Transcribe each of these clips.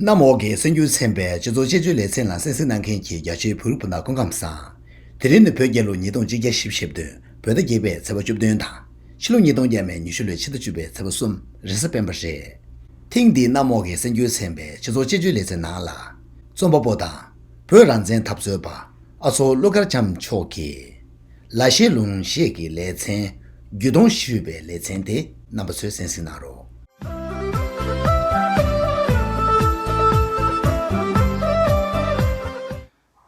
གནམ་འོག་གི་སེམས་རྒྱུད་ཚན་པའི་སྤྱི་ཚོགས་དཔྱད་བརྗོད་ལེ་ཚན་ལ་གསན་གཟིགས་གནང་མཁན་གྱི་རྒྱ་ཆེའི་བོད་རིགས་སྤུན་ཟླ་འཁོན་ཁམས་བཟང། དེ་རིང་ནི་བོད་རྒྱལ་ལོ་ཉིས་སྟོང་གཅིག་བརྒྱ་ཞེ་བཞི་བདུན་བོད་ཟླ་བརྒྱད་པའི་ཚེས་པ་བཅུ་བདུན་དང། ཕྱི་ལོ་ཉིས་སྟོང་བརྒྱད་མའི་ཉི་ཤུ་ལོའི་ཕྱི་ཟླ་བཅུ་པའི་ཚེས་པ་གསུམ་རེས་གཟའ་སྤེན་པ་རེད། ཐེངས་འདིའི་གནམ་འོག་གི་སེམས་རྒྱུད་ཚན་པའི་སྤྱི་ཚོགས་དཔྱད་བརྗོད་ལེ་ཚན་ནང་ལ། རྩོམ་པ་པོ་དང་བོད་རང་བཙན་འཐབ་རྩོད་པ་ཨ་མཚོ་ཀླུ་མཁར་བྱམས་མཆོག་གིས། ལ་ཤེས་ལུང་ཤེས་ཀྱི་ལེ་ཚན། རྒྱུད་སྟོང་བཞི་ཤོད་པའི་ལེ་ཚན་དེ་རྣམ་པ་ཚོས་གསན་གཟིགས་གནང་རོགས།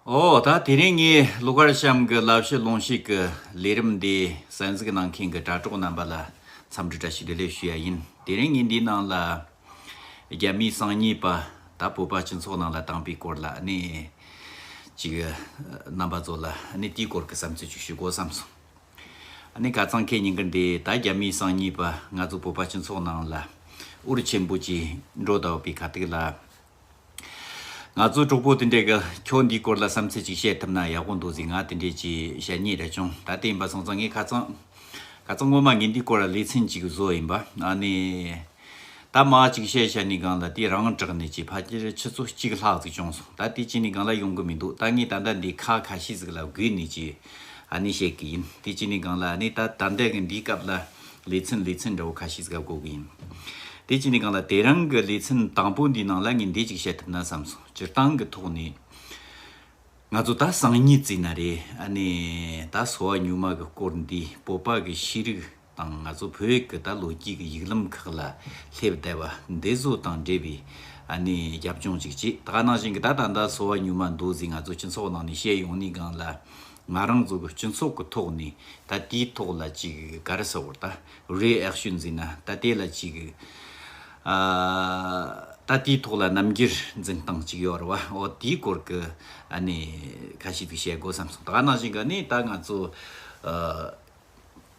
འོ་ད་དེ་རིང་ངས་ཀླུ་མཁར་བྱམས་ཀྱི་ལ་ཤེས་ལུང་ཤེས་ཀྱི་ལས་རིམ་འདི་གསན་གཟིགས་གནང་མཁན་གྱི་དྲ་གྲོགས་རྣམ་པ་ལ་འཚམས་འདྲི་འདྲ་ཞིག་བདེ་ལེགས་ཞུ་ཡ་ཡིན། དེ་རིང་ངས་འདིའི་ནང་ལ། རྒྱ་མིའི་གསང་ཉིད་པ་དང་བོད་པ་སྤྱི་ཚོགས་ནང་ལ་བཏང་པའི་སྐོར་ལ་ནི། ཅིག། རྣམ་པ་ཚོ་ལ་ནི་དེའི་སྐོར་གྱི་བསམ་ཚུལ་ཅིག་ཞུ་དགོས་བསམ་སོང། ནི་ག་ཙང་ཁས་ཉིན་གི་འདི་ད་རྒྱ་མིའི་གསང་ཉིད་པ་ང་ཚོ་བོད་པ་སྤྱི་ཚོགས་ནང་ལ། ཨུ་རུ་ཆེན་པོ་ཅིག་འགྲོ་ད་བོད་པའི་ཁ་ཐུག་ལ། ང་ཚོ་གྲོགས་པོ་དེ་འདྲས་ཀྱི་ཁྱོད་འདིའི་སྐོར་ལ་བསམ་ཚུལ་ཅིག་བཤད་ཐུབ་ན་ཡག་པོ་འདུག་ཟིག་ང་དེ་འདྲས་ཀྱི་ཞལ་ཉེས་རེ་བྱུང་ད་ལྟ་ཡིན་པ་སོང་ཙང་ངས་ཁ་ཚང། ཁ་ཚང་ངོ་མ་ངས་འདིའི་སྐོར་ལ་ལེ་ཚན་གཅིག་བཟོ་ཡིན་པ་ཨ་ནི། ད་མ་གཅིག་བཤད་བཤད་ནས་སྒང་ལ་དེ་རང་དྲག་ནས་ཀྱི་ཕ་ཁྱེར་ཆུ་ཚོད་གཅིག་ལྷག་ཙིག་བྱུང་སོང་ད་དེ་བྱས་ནས་སྒང་ལ་ཡོང་གི་མི་འདུག་ད་ངས་ད་ལྟ་འདི་ཁ་ཁ་ཤས་ཟིག་ལ་བསྒུས་ནས་ཀྱི་ཨ་ནི་བཤད་ཀྱི་ཡིན་དེ་བྱས་ནས་སྒང་ལ་ཨ་ནི་ད་ད་ལྟ་གི་འདིའི་སྐབས་ལ། ལེ་ཚན་ལེ་ཚན་འདྲ་བོ་ཁ་ཤས་ཟིག་ལ་གོ་གི་ཡིན། དེ་ཅི་ནས་གང་ལ་དེ་རང་གི་ལེ་ཚན་དང་པོ་འདིའི་ནང་ལ་ངས་འདི་ཅིག་བཤད་ཐུབ་ན་བསམ་སོང་སྤྱིར་བཏང་གི་ཐོག་ནས། ང་ཚོ་ད་སང་ཉིན་བརྩིས་ན་རེད་ཨ་ནི་ད་གསོ་བ་ཉུང་མ་གི་སྐོར་འདི་བོད་པ་གི་ཤེས་རིག་དང་ང་ཚོ་བོད་ཀྱི་ད་ལོ་རྒྱུས་ཀྱི་ཡིག་ལམ་ཁག་ལ་སླེབས་བསྡད་པ་འདི་བཟོ་དང་འབྲེལ་བའི་ཨ་ནི་རྒྱབ་ལྗོངས་ཅིག་བྱེད་དཀའ་ནང་བཞིན་གྱི་ད་ད་ད་གསོ་བ་ཉུང་མ་འདུག་ཟིག་ང་ཚོ་སྤྱི་ཚོགས་ནང་ནས་བཤད་ཡོང་ནི་གང་ལ་ང་རང་ཚོ་གི་སྤྱི་ཚོགས་ཀྱི་ཐོག་ནས་ད་ལྟའི་ཐོག་ལ་ཅིག་ག་རེ་ཟེར་བར་ད་རེས་ཨེ་ཤོད་འཛིན་ན་ད་ལྟའི་ལ་ཅིག་ད་ལྟའི་ཐོག་ལ་རྣམ་འགྱུར་འཛིན་སྟངས་ཅིག་ཡོད་རེད་བ་འོ་དེའི་སྐོར་གྱི་གནས་ཁ་ཞིག་ཏུ་བཤད་དགོས་བསམ་སོང་ད་ནང་བཞིན་ག་ནས་ད་ང་ཚོ་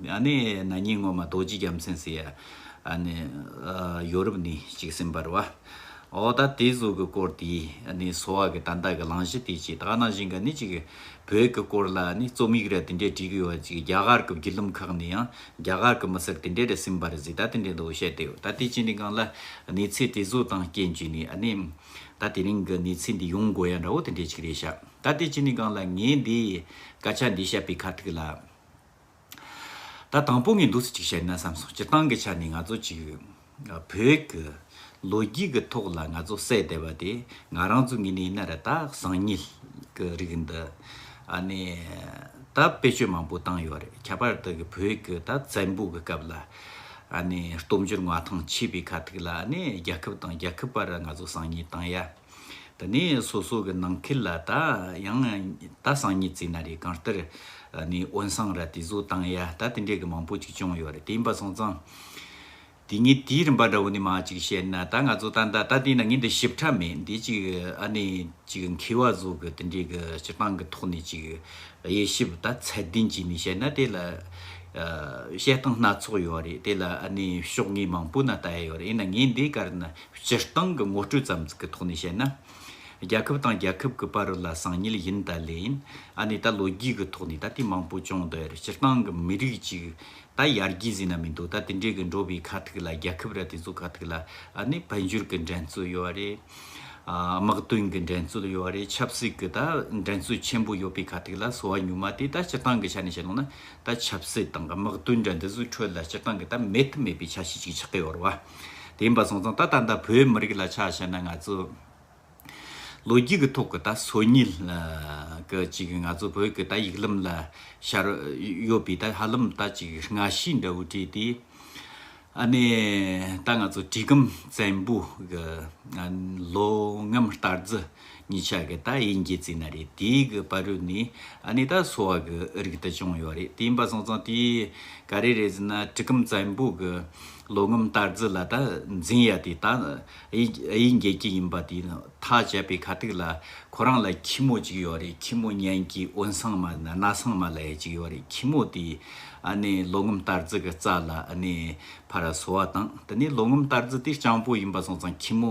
ནི་ན་ཉིན་སྔོན་མ་རྡོ་རྗེ་རྒྱལ་མཚན་ཟེར་ཡ་ནི་ཡོ་རུབ་ནས་ཅིག་སེམས་པར་བ། འོ་ད་དེ་གཟུགས་ཀྱི་སྐོར་དེ་ནི་སོ་བ་གི་ད་འདའ་གི་ལང་གཞི་དེ་ཅིག་ད་ན་བཞིན་ག་ནི་ཅིག་བོད་གི་སྐོར་ལ་ནི་རྩོམ་ཡིག་ར་དེ་འདྲས་བྲིས་གི་ཡོ་བ་ཅིག་རྒྱ་གར་གི་བརྒྱུད་ལུམ་ཁག་ནས་ཡང་རྒྱ་གར་གི་མི་སེར་དེ་འདྲས་ར་སེམས་པར་ཟིག་ད་དེ་འདྲས་འདུག་བཤད་དེ་ཡོ་ད་དེ་ཅི་ནི་གང་ལ་ནི་ཚེ་དེ་གཟུགས་དང་རྐྱེན་བརྒྱུད་ནས་ཨ་ནི་ད་དེ་རིང་གི་ནི་ཚེ་འདི་ཡོང་དགོ་ཡ་འདྲ་བོ་དེ་འདྲས་ཅིག་རེད་བཤད་ད་དེ་ཅི་ནི་གང་ལ་ངས་འདི་སྐད་ཆ་འདི་བཤད་པའི་ཁ་ཐུག་ལ། ད་དང་པོ་ངས་འདུག་ཚུལ་གཅིག་བཤད་ན་བསམ་སོང་སྤྱིར་བཏང་གི་ཆ་ནས་ང་ཚོ་གཅིག་བོད་ཀྱི་ལོ་རྒྱུས་ཀྱི་ཐོག་ལ་ང་ཚོ་བསད་བསྡད་པ་དེ་ང་རང་ཚོའི་ངོས་ནས་ཡིན་ན་རེད་ད་གསང་ཉིད་ཀྱི་རིགས་འདི་ཨ་ནི་ད་བེད་སྤྱོད་མང་པོ་བཏང་ཡོད་རེད་ཁྱད་པར་དུ་གི་བོད་ཀྱི་ད་བཙན་པོ་གི་སྐབས་ལ་ཨ་ནི་སྟོབས་འབྱོར་མངའ་ཐང་མཆིས་པའི་ཁ་ཐུག་ལ་ཨ་ནི་རྒྱལ་ཁབ་དང་རྒྱལ་ཁབ་བར་ང་ཚོ་གསང་ཉིད་བཏང་ཡ། ད་ནི་སོ་སོ་གི་ནང་ཁུལ་ལ་ད་ཡང་ད་སང་ཉིད་ཙིག་ན་རེ་གང་ལྟར་ནི་དབོན་སང་ར་དེ་བཟོ་བཏང་ཡ་ད་དེ་འདྲས་གི་མང་པོ་ཅིག་བྱུང་ཡོད་རེད་དེ་ཡིན་པ་སོང་ཙང་དེ་ངའི་དེའི་རིམ་པ་འདྲ་བོ་ནི་མང་ཅིག་བཤད་ན་ད་ང་ཚོ་ད་ད་ད་དེ་ན་ངའི་འདི་ཞིབ་ཕྲ་མེད་འདི་ཅིག་ཨ་ནི་ཅིག་མཁས་བ་བཟོ་གི་དེ་འདྲས་གི་སྤྱི་སྟངས་གི་ཐོག་ནས་ཅིག་དབྱེ་ཞིབ་ད་ཚད་ལྡན་ཅིག་ནས་བཤད་ན་དེ་ལ་བཤད་སྟངས་སྣ་ཚོགས་ཡོད་རེད་དེ་ལ་ཨ་ནི་ཕྱོགས་ངེས་མང་པོ་ན་ད་ཡོད་རེད་ཡིན་ན་ངའི་འདི་གར་ན་སྤྱིར་བཏང་གི་ངོ་སྤྲོད་ཙམ་ཙིག་གི་ཐོག་ནས་བཤད་ན། རྒྱལ་ཁབ་དང་རྒྱལ་ཁབ་ཀྱི་བར་ལ་སང་ཉིལ་ཡིན་ད་ལེ་ཡིན་ཨ་ནི་ད་ལོ་རྒྱུས་ཀྱི་ཐོག་ནས་ད་དེ་མང་པོ་བྱུང་འདུག་ཡར་སྤྱིར་བཏང་གི་མི་རིགས་གཅིག་ད་ཡར་རྒྱས་ཟིན་ན་མི་འདུག་ད་དེ་འདྲའི་གི་འགྲོ་བའི་ཁ་ཐུག་ལ་རྒྱལ་ཁབ་ར་དེ་ཚོ་ཁ་ཐུག་ལ་ཨ་ནི་འཕེལ་འགྱུར་གྱི་འགྲན་རྩོད་ཡོད་རེད། དམག་དོན་གྱི་འགྲན་རྩོད་ཡོད་རེད་ཆབ་སྲིད་ཀྱི་ད་འགྲན་རྩོད་ཆེན་པོ་ཡོད་པའི་ཁ་ཐུག་ལ་སོ་བ་ཉུང་མ་དེ་ད་སྤྱིར་བཏང་གི་ཆ་ནས་བཤད་ལོང་ན་ད་ཆབ་སྲིད་དང་དམག་དོན་འདྲ་འདི་ཚོའི་ཁྲོད་ལ་སྤྱིར་བཏང་གི་ད་མེད་ཐབས་མེད་པའི་ཆ་ཤས་ཅིག་ཆགས་ཀྱི་ཡོད་རེད་བ། དེ་ཡིན་པ་སོང་ཙང་ད་ད་ལྟ་བོད་མི་རིགས་ལ་ཆ་བཤད་ན་ང་ཚོ་ལོ་རྒྱུས་ཀྱི་ཐོག་གི་ད་སོ་ཉིལ་གི་ཅིག་ང་ཚོ་བོད་ཀྱི་ད་ཡིག་ལམ་ལ་ཤར་ཡོད་པའི་ད་ཧ་ལམ་ད་ཅིག་སྔ་ཕྱི་འདྲ་བོ་བྲིས་ཏེ་ཨ་ནེ་ད་ང་ཚོ་གྲི་གུམ་བཙན་པོ་གི་ལོ་ངམ་སྟར་རྫི་གཉིས་ཆ་གི་ད་ཡིན་གྱི་རྩིས་ན་རེད་དེའི་གི་པར་རུས་ནི་ཨ་ནི་ད་སོ་བ་གི་རིགས་དེ་བྱུང་ཡོད་རེད་དེ་ཡིན་པ་སོང་ཙང་དེ་ག་རེ་རེད་རྩིས་ན་གྲི་གུམ་བཙན་པོ་གི་ལོ་ངོམ་གཏར་རྫི་ལ་ད་འཛིན་ཡ་དེ་ད་ཨ་ཡིན་རྒྱལ་སྐྱེས་ཡིན་པ་དེ་ཐག་བཅད་པའི་ཁ་ཐུག་ལ་ཁོ་རང་ལ་ཁྱི་མོ་གཅིག་ཡོད་རེད་ཁྱི་མོ་གཉན་གྱི་དབོན་སངས་མ་ན་ན་སངས་མ་ལ་ཡ་གཅིག་ཡོད་རེད་ཁྱི་མོ་དེ་ཨ་ནི་ལོ་ངོམ་གཏར་རྫི་གི་རྩ་ལ་ཨ་ནི་ཕ་ར་སོ་བ་དང་དེ་ནི་ལོ་ངོམ་གཏར་རྫི་དེ་སྤྱང་པོ་ཡིན་པ་སོང་ཙང་ཁྱི་མོ་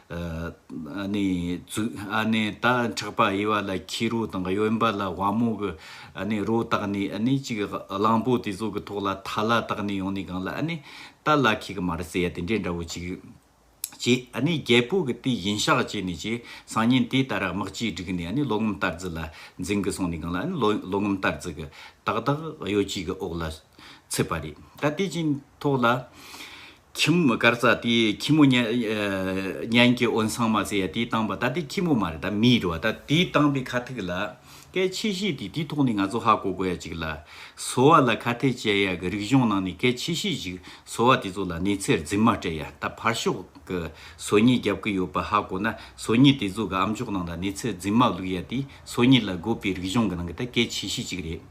ད་འཁྲག་པ་དབྱེ་བ་ལ་ཁྱི་རོ་དང་གཡོན་པ་ལ་བ་མོ་གི་རོ་བཏགས་ནས་གཅིག་གླང་པོ་དེ་ཚོ་གི་ཐོག་ལ་ཐ་ལ་བཏགས་ནས་ཡོང་ནས་གང་ལ་ད་ལ་ཁྱི་གི་མར་བསྲེག་ཡ་དེ་འདྲའི་འདྲ་བོ་གཅིག་བྱས། རྒྱལ་པོ་གི་དེ་བཞིན་ཤག་བྱས་ནས་ཀྱི་སང་ཉིན་དེ་ལྟར་དམག་གཅིག་བསྒྲིགས་ནས་ལོ་ངམ་ལྟར་རྫི་ལ་འཛིང་གི་སོང་ནས་གང་ལ་ལོ་ངམ་ལྟར་རྫི་གི་ཏག་ཏག་གཡོ་གཅིག་གི་འོག་ལ་ཚུད་པ་རེད་ད་དེ་བཞིན་ཐོག་ལ། ཁྱིམ་མི་དཀར་རྩྭ་དེའི་ཁྱི་མོ་གཉན་གྱི་འོད་མཚང་མ་ཟེར་ཡ་དེའི་སྟངས་པ་ད་དེ་ཁྱི་མོ་མ་རེད་ད་མིའི་འགྲོ་བ་ད་དེའི་སྟངས་པའི་ཁ་ཐུག་ལ་སྐད་ཆེ་བཤད་དེ་དེའི་ཐོག་ནས་ང་ཚོ་ཧ་གོ་དགོས་ཡ་ཅིག་ལ་སོ་བ་ལ་ཁ་ཐད་བྱས་ཡ་གི་རིག་གཞུང་ནང་ནས་སྐད་ཆེ་བཤད་ཅིག་སོ་བ་དེ་ཚོ་ལ་ནེ་ཚེར་རྫིག་མ་སྤྲད་ཡ་ད་ཕར་ཞོག་གི་སོ་ཉི་རྒྱབ་ཀི་ཡོད་པ་ཧ་གོ་ན་སོ་ཉི་དེ་ཚོ་གི་ཨམ་ཅོག་ནང་ད་ནེ་ཚེར་རྫིག་མ་བླུག་ཡ་དེའི་སོ་ཉི་ལ་དགོས་པའི་རིག་གཞུང་གི་ནང་གི་ད་སྐད་ཆེ་བཤད་ཅིག་རེད།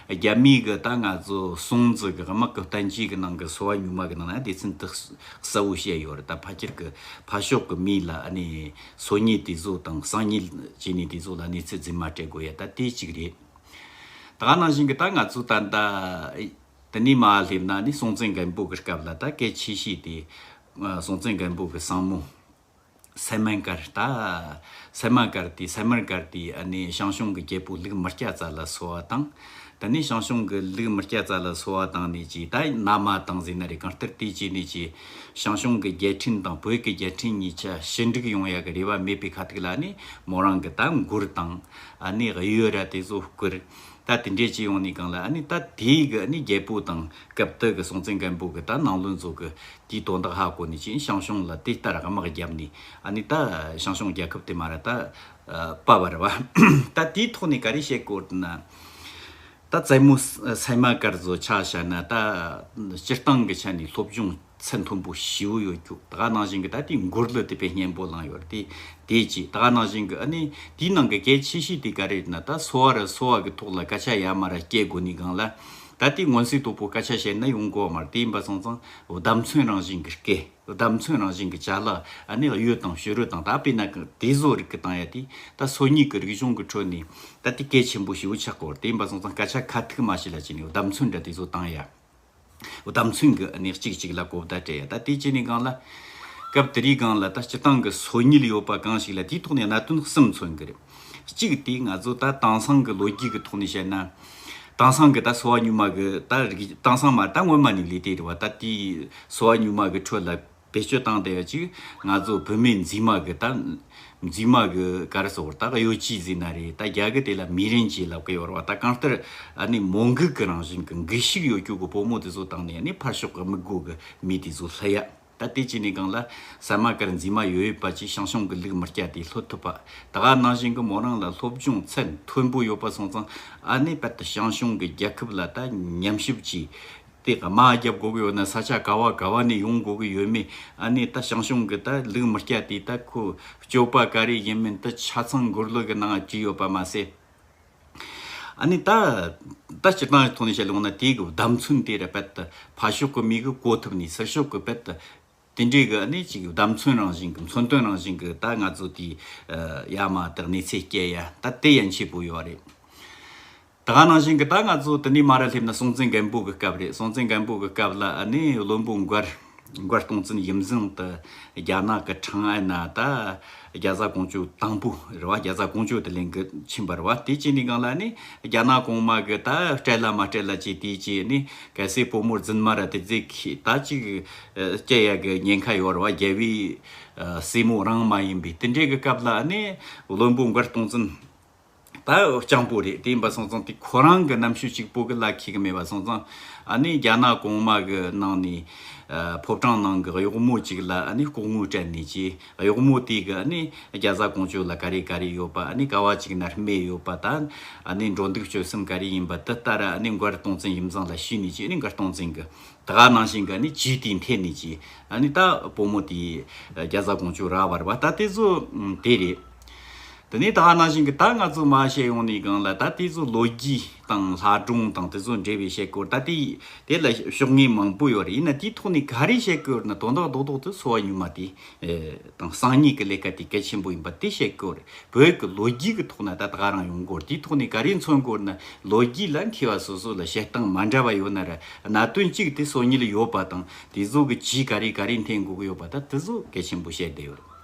རྒྱ་མིའི་གི་ད་ང་ཚོ་སྲུང་འཛི་གི་དམག་གི་གཏན་ཁྱིའི་གི་ནང་གི་སོ་བ་ཉུང་མ་གི་ནང་ན་དེ་ཚིན་ཏི་གསལ་བོ་བཤད་ཡོད་རེད་ད་ཕ་ཁྱེར་གི་ཕ་ཤོག་གི་མིའི་ལ་ནི་སོ་ཉིལ་དེ་ཚོ་དང་སང་ཉིལ་བྱེད་ནི་དེ་ཚོ་ལ་གནས་ཚུལ་རྫི་མ་སྤྲད་དགོས་ཡ་ད་དེ་གཅིག་རེད། ད་ནང་བཞིན་གི་ད་ང་ཚོ་ད་ད་དེ་ནི་མ་སླེབས་ན་ནི་སྲོང་བཙན་སྒམ་པོ་གི་སྐབས་ལ་ད་སྐད་ཆེ་བཤད་དེ་སྲོང་བཙན་སྒམ་པོ་གི་སང་མོ་སེ་མན་ཀར་ཏ། སེ་མ་ཀར་ཏི་སེ་མར་ཀར་ཏི་ཨ་ནི་ཞང་ཞུང་གི་རྒྱལ་པོ་ལུག་མི་སྐྱ་ཙཱ་ལ་སོ་བ་དང། ད་ནི་ཞང་ཞུང་གི་ལུག་མི་སྐྱ་ཙཱ་ལ་སོ་བ་དང་ནི་ཅི་ད་ན་མ་དང་ཟི་ན་རི་གང་ཏིར་ཏི་ཅི་ནི་ཅི། ཞང་ཞུང་གི་རྒྱལ་ཕྲན་དང་བོད་ཀྱི་རྒྱལ་ཕྲན་གཉིས་ཆ་ཞི་འགྲིག་ཡོང་ཡག་གི་རེ་བ་མེད་པའི་ཁ་ཐུག་ལ་ནི་མོ་རང་གི་ད་མགུར་དང། ཨ་ནི་གཡུ་ར་དེ་ཚོ་བསྐུར། ད་དེ་འདྲས་ཅི་ཡོང་ནི་གང་ལ་ཨ་ནི་ད་དེའི་གི་ནི་རྒྱལ་པོ་དང་སྐབས་དེ་གི་སྲོང་བཙན་སྒམ་པོ་གི་ད་ནང་བློན་ཚོ་གི་དེའི་དོན་དག་ཧ་གོ་ནི་ཅིང་ཞང་ཞུང་ལ་དེ་ལྟར་དམག་བརྒྱབ་ནི་ཨ་ནི་ད་ཞང་ཞུང་རྒྱལ་ཁབ་དེ་མ་ར་ད་པ་བར་བ་ད་དེའི་ཐོག་ནི་ག་རེ་བྱེད་དགོས་ན་ད་ཙེ་མོ་སེ་མ་ཀར་ཛོ་ཆ་བྱ་ན་ད་སྤྱིར་བཏང་གི་ཆ་ནི་སློབ་སྦྱོང། ཚེ་མཐོན་པོ་བྱིའུ་ཡོད་རྒྱུ་ད་ག་ནང་བཞིན་གྱི་ད་དེའི་མགུར་ལོ་དེ་པའི་སྙན་པོ་བླངས་ཡོད་དེ་དེས་ཀྱིས་ད་ག་ནང་བཞིན་གྱི་ཨ་ནི་དེའི་ནང་གི་གལ་ཆེ་ཤོས་དེ་ག་རེད་ན་ད་སོ་བ་ར་སོ་བ་གྱི་ཐོག་ལ་སྐད་ཆ་ཡ་མ་ར་སྐྱེལ་དགོས་ནི་གང་ལ་ད་དེའི་ངོ་ཚིག་དོག་པོ་སྐད་ཆ་བཤད་ན་ཡོང་གོ་མ་ར་དེ་ཡིན་པ་ཚང་ཚང་བདམས་མཚོན་རང་བཞིན་གྱི་སྐད་བདམས་མཚོན་རང་བཞིན་གྱི་བྱ་གླག་ཨ་ནི་གཡུ་དང་བྱུ་རུ་དང་ད་དཔེ་ན་གི་དེ་བཟོ་རིག་གི་དང་ཡ་དེ་ད་སོ་གཉིས་གྱི་རིག་གཞུང་གི་ཁྲོད་ནས་ད་དེ་གལ་ཆེན་པོ་བྱིའུ་ཆག་གོ་ར་དེ་ཡིན་པ་ཚང་ཚང་སྐད་ཆ་ཁ་ཐུག་མ་བྱེད་ལ་བྱས་ནས་བདམས་མཚོན་འདྲ་དེ་བཟོ་དང་ཡ། དམ་ཚིག་གི་གནས་གཅིག་གཅིག་ལ་གོ་བརྡ་སྤྲད་ཡ་ད་དེ་ཅི་ནས་སྒང་ལ། སྐབས་དེ་རིའི་སྒང་ལ་ད་སྤྱི་སྟངས་གི་སོ་ཉིལ་ཡོད་པ་གང་ཞིག་ལ་དེའི་ཐོག་ནས་གནད་དོན་གསུམ་མཚོན་གི་རེད། གཅིག་དེ་ང་ཚོ་ད་དྭངས་སང་གི་ལོ་རྒྱུས་གི་ཐོག་ནས་བཤད་ན། དྭངས་སང་གི་ད་སོ་བ་གཉུག་མ་གི་ད་རིགས་དྭངས་སང་མ་ད་སྔོན་མ་ནས་ལས་དེ་རེད་བ་ད་དེའི་སོ་བ་གཉུག་མ་གི་ཁྲོད་ལ། བེད་སྤྱོད་བཏང་སྟེ་ཡོད་ཅིག་ང་ཚོ་བོད་མི་འཛིན་མ་གི་ད། འཛིན་མ་གི་གར་སོ་བར་ད་གཡོ་སྐྱིད་འཛིན་ན་རེད་ད་རྒྱ་གི་དེ་ལ་མི་རིན་གྱིས་ལབ་གི་ཡོར་བ་ད་གང་ལྟར་ཨ་ནི་མོ་འགུག་གི་རང་བཞིན་གི་འགུལ་ཤུགས་ཡོ་རྒྱུག་གི་བུ་མོ་དེ་ཚོ་བཏང་ནས་ཨ་ནི་ཕར་ཕྱོགས་གི་མི་དགོས་གི་མི་དེ་ཚོ་ལྷི་ཡ་ད་དེ་ཅི་ནས་གང་ལ་ཟ་མ་གར་འཛིན་མ་ཡོ་ཡོད་པ་ཅིག་ཤང་ཤང་གི་ལུག་མི་སྐྱ་དེ་ལྷོད་ཐུབ་པ་ད་ག་ནང་བཞིན་གི་མོ་རང་ལ་སློབ་སྦྱོང་ཚད་མཐོན་པོ་ཡོ་པ་སོང་ཙང་ཨ་ནི་པད་ད་ཤང་ཤང་གི་རྒྱལ་ཁབ་ལ་ད་ཉམས་ཞིབ་ཅིག་དེ་དང་དམག་རྒྱབ་དགོས་ཀྱི་ཡོད་ན་ས་ཆ་ག་བ་ག་བ་ནས་ཡོང་དགོས་ཀྱི་ཡོད་མེད་ཨ་ནི་ད་ཞང་ཞུང་གི་ད་ལུག་མི་སྐྱ་དེས་ད་ཁོ་སྐྱོབ་པ་ག་རེ་ཡིན་མིན་ད་ཆ་ཚང་མགུར་གླུ་གི་ནང་བྲིས་ཡོད་པ་མ་ཟད། ཨ་ནི་ད་ད་སྤྱིར་བཏང་གི་ཐོག་ནས་བཤད་ལོང་ན་དེའི་གི་བདམས་ཚུན་དེ་ར་བལ་དུ་ཕ་ཤོག་གི་མི་གི་བཀོལ་ཐུབ་ནས་སེར་ཤོག་གི་བལ་དུ་དེ་འདྲའི་གི་གནད་ཅིག་བསྡམ་ཚུན་རང་བཞིན་གི་མཚོན་དོན་རང་བཞིན་གི་ད་ང་ཚོ་དེ་ཡ་མ་དེ་གནས་ཚད་སྐྱེ་ཡ་ད་དེ་ཡན་ཆད་པོ་ཡོད་རེད། ད་ག་རང་བཞིན་གི་ད་ང་ཚོ་དེ་ནས་མ་ར་སླེབས་ན་སྲོང་བཙན་སྒམ་པོ་གི་སྐབས་རེད་སྲོང་བཙན་སྒམ་པོ་གི་སྐབས་ལ་ནི་བློན་པོ་མགར་མགར་སྟོང་བཙན་ཡིམ་བཟང་དུ་རྒྱ་ནག་གི་ཁྲང་ཨན་ན་ད་རྒྱ་བཟའ་གོང་ཆུ་དང་པོ་རེད་བ་རྒྱ་བཟའ་གོང་ཆུ་དེ་ལེན་གི་ཕྱིན་པ་རེད་བ་དེ་བྱས་ནས་གང་ལ་ནི་རྒྱ་ནག་གོང་མ་གི་ད་སྤྲད་ལ་མ་སྤྲད་ལ་བྱས་དེ་བྱས་ནི་གལ་སྲིད་བུ་མོར་རྫུན་མ་ར་དེ་རྫིག་ད་ཅིག་སྐྱི་གཡའ་གི་ཉེན་ཁ་ཡོད་རུང་རྒྱལ་བའི་སྲས་མོ་རང་མ་ཡིན་པས་དེ་འདྲའི་གི་སྐབས་ལ་ནི་བློན་པོ་མགར་སྟོང་བཙུན་ད་སྤྱང་པོ་རེད་དེ་འབའ་སོང་ཙང་དེ་ཁོ་རང་གི་རྣམ་ཤུས་གཅིག་པོ་གི་ལ་ཁེལ་གི་མེད་པ་སོང་ཙང་ནི་རྒྱ་ནག་གོང་མ་གི་ནང་ནས་ཕོ་བྲང་ནང་གི་གཡོག་མོ་གཅིག་ལ་ནི་ལྐོག་དངུལ་སྤྲད་ནས་ཀྱི་གཡོག་མོ་དེ་གི་ནི་རྒྱ་བཟའ་གོང་བྱོས་ལ་ག་རེ་ག་རེ་ཡོད་པ་ནི་ག་བ་གཅིག་ནར་སྨྲས་ཡོད་པ་ད་ནི་འགྲོ་འདུག་སྤྱོད་སེམས་ག་རེ་ཡིན་པ་དེ་ལྟར་ནི་མགར་སྟོང་བཙུན་ཡིམ་ཙང་ལ་ཤི་ནས་ཀྱི་ནི་མགར་སྟོང་བཙུན་གི་ད་ག་ནང་བཞིན་ག་ནི་བྱིས་དེའི་མཐའི་ནི་བྱིས་ཨ་ནི་ད་བུ་མོ་དེའི་རྒྱ་བཟའ་དགོང་ཆུ་ར་བར་བ་ད་དེ་ཚོ་དེ་རེད། དེ་ནས་ད་ག་ནང་བཞིན་གི་ད་ང་ཚོ་མ་བཤད་ཡོང་ནི་གང་ལ་ད་དེ་ཚོ་ལོ་རྒྱུས་དང་ལྷ་སྒྲུང་དང་དེ་ཚོ་འབྲེལ་བའི་བཤད་སྐོར་ད་དེ་དེ་ལ་ཤོག་ངེས་མང་པོ་ཡོད་རེད་ཡིན་ན་དེའི་ཐོག་ནས་ག་རེ་བཤད་སྐོར་ན་དོན་དག་རྡོག་རྡོག་ཏུ་འཚོ་བ་ཉུལ་མ་དེ་དང་སང་ཉིན་གྱི་ལས་ཀ་དེ་གལ་ཆེན་པོ་ཡིན་པ་དེ་བཤད་ཀྱི་རེད། བོད་ཀྱི་ལོ་རྒྱུས་ཀྱི་ཐོག་ན་ད་ད་ག་རང་ཡོང་སྐོར་དེའི་ཐོག་ནས་ག་རེ་མཚོན་སྐོར་ན་ལོ་རྒྱུས་ལ་མཁས་པ་སོ་སོ་ལ་བཤད་སྟངས་མ་འདྲ་བ་ཡོད་ན་རེད། གནད་དོན་གཅིག་དེ་སོ་གཉིས་ལ་ཡོད་པ་དང་དེ་ཚོ་གི་ཇུས་ག་རེ་ག་རེ་འཐེན་དགོས་ཀྱི་ཡོད་པ་ད་དེ་ཚོ་གལ་ཆེན་པོ་བཤད་བསྡད་ཡོད་རེད།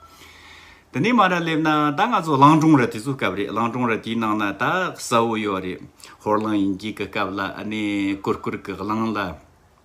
དེ་ནས་མ་ར་སླེབས་ན་ད་ང་ཚོ་གླང་སྒྲུང་ར་དེ་ཚོའི་སྐབས་རེད་གླང་སྒྲུང་ར་དེའི་ནང་ན་ད་གསལ་བོ་ཡོད་རེད། ཧོར་གླིང་དབྱིན་སྐད་ཀྱི་སྐབས་ལ་ཨ་ནེ་ཀུར་ཀུར་གྱི་གླང་ལ།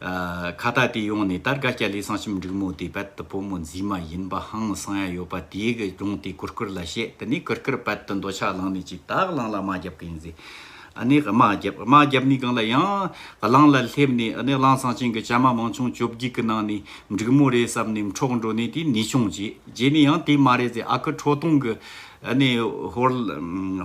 ཁ་བརྡ་དེ་ཡོང་ནས་ད་སྒ་སྐྱ་ལས་གསང་ཞིམ་འབྲུག་མོ་དེ་རྦད་དུ་བུ་མོ་རྫི་མ་ཡིན་པ་ཧང་སང་ཡ་ཡོད་པ་དེའི་གི་ཡོང་དེ་གུར་གུར་ལ་བཤད་དེ་ནས་གུར་གུར་རྦད་དུ་འདོད་ཆགས་ལངས་ནས་ཅིག་ད་གླང་ལ་རྨ་རྒྱབ་གི་ཡིན་ཟེ་ཨ་ནི་རྨ་རྒྱབ་རྨ་རྒྱབ་ནི་གང་ལ་ཡང་གླང་ལ་སླེབས་ནས་ཨ་ནི་གླང་སང་ཆེན་གི་སྐྱ་མ་མང་ཆུང་བཅོ་བརྒྱུད་གི་ནང་ནས་འབྲུག་མོ་རེད་བསམ་ནས་འཕྲོག་འགྲོ་ནས་དེ་ནི་ཆུང་རྗེས་རྗེས་ནས་ཡང་དེ་མ་རེད་ཟེ་ཨ་ཁུ་ཁྲོ་ཐུང་གི་ཨ་ནི་ཧོར་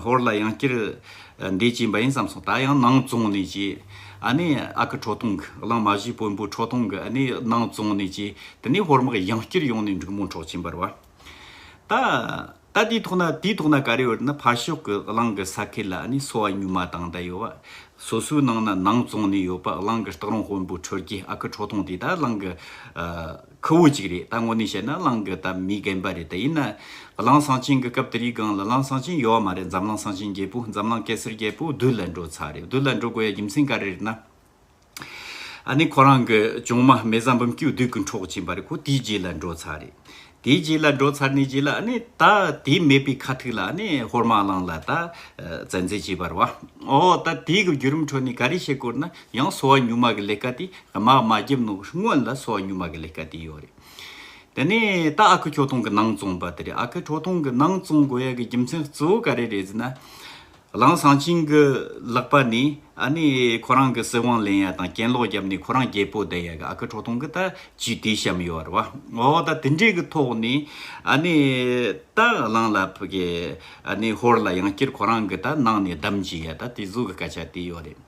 ཧོར་ལ་ཡང་སྐྱིར་འདས་ཀྱི་འབའ་ཡིན་བསམ་སོང་ད་ཡང་སྣང་བཙོང་ནས་ཀྱི་ཨ་ནི་ཨ་ཁུ་ཁྲོ་ཐུང་གི་གླང་མ་བཞི་དཔོན་པོའི་ཁྲོ་ཐུང་གི་ཨ་ནི་སྣང་བཙོང་ནས་ཀྱི་དེ་ནས་ཧོར་དམག་ཡང་བསྐྱུར་ཡོང་ནས་འབྲུག་མོ་འཕྲོག་ཀྱིན་འབར་བ། ད་ད་དེའི་ཐོག་ན་དེའི་ཐོག་ན་ག་རེ་ཡོད་ན་ཕར་ཕྱོགས་གི་གླང་གི་ས་ཁེ་ལ་ཨ་ནི་སོ་བ་སྨྱུག་མ་དང་ད་ཡོད་བ་སོ་སོའི་ནང་ན་སྣང་བཙོང་ནས་ཡོད་པ་གླང་གི་སྟག་རོང་དཔོན་པོའི་ཁྲོད་ཀྱི་ཨ་ཁུ་ཁྲོ་ཐུང་དེ་ད་གླང་གི། ཁུ་བོ་གཅིག་རེད་ད་དངོས་གནས་བཤད་ན་གླང་གི་སྟབས་མི་རྒན་པ་རེད་དེ་ཡིན་ན། གླང་གསང་ཆེན་གི་སྐབས་དེ་རིགས་སྒང་ལ་གླང་གསང་ཆེན་ཡོད་བ་མ་རེད་འཛམ་གླང་གསང་ཆེན་རྒྱལ་པོ་འཛམ་གླང་གེ་སར་རྒྱལ་པོ་བདུད་ལ་འགྲོ་ཚར་རེད་བདུད་ལ་འགྲོ་དགོས་ཡ་རྒྱུ་མཚན་ག་རེ་རེད་ན། ཨ་ནི་ཁོ་རང་གི་ཅོང་མ་མེ་བཟའ་འབུམ་སྐྱིད་བདུད་ཀྱི་འཕྲོག་བྱེད་པ་རེད་ཁོ་དེའི་རྗེས་ལ་འགྲོ་ཚར་རེད། དེའི་རྗེས་ལ་འགྲོ་ཚར་ནས་རྗེས་ལ་ཨ་ནི་ད་དེའི་མེད་པའི་ཁ་ཐུག་ལ་ཨ་ནི་ཧོར་མ་གླང་ལ་ད་བཙན་འཛེལ་བྱས་པར་བ། ཨོ་ད་དེའི་གི་བརྒྱུད་རིམ་ཁྲོད་ནས་ག་རེ་བཤད་སྐོར་ན་ཡང་གསོ་བ་གཉུག་མ་གི་ལས་ཀ་དེ་མ་མ་བརྒྱབ་ནོ་སྔོན་ལ་གསོ་བ་གཉུག་མ་གི་ལས་ཀ་དེ་ཡོད་རེད། དེ་ནས་ད་ཨ་ཁུ་ཁྱོ་ཐུང་གི་ནང་བཙོང་པ་དེ་རེད་ཨ་ཁུ་ཁྲོ་ཐུང་གི་ནང་བཙོང་དགོས་ཡ་གི་རྒྱུ་མཚན་གཙོ་བོ་ག་རེ་རེད་ཟེར་ན། རང་ཞང་ཆིང་གི་ལག་པ་ནས་ཨ་ནི་ཁོ་རང་གི་སྲིད་དབང་ལེན་ཡ་དང་གྱེན་ལོག་བརྒྱབ་ནས་ཁོ་རང་རྒྱལ་པོ་བསྡད་ཡ་གི་ཨ་ཁུ་ཁྲོ་ཐུང་གི་ད་ཇུས་དེ་བཤམས་ཡོད་རེད་བ། འོ་ད་དེ་འདྲའི་གི་ཐོག་ནས་ཨ་ནི་ད་གླང་ལ་ཕུ་གི་ཨ་ནི་ཧོར་ལ་ཡང་བསྐྱིར་ཁོ་རང་གི་ད་ནང་ནས་བསྡམས་ཇི་ཡ་ད་དེ་གཟུགས་གི་སྐད་ཆ་དེ་ཡོད་རེད།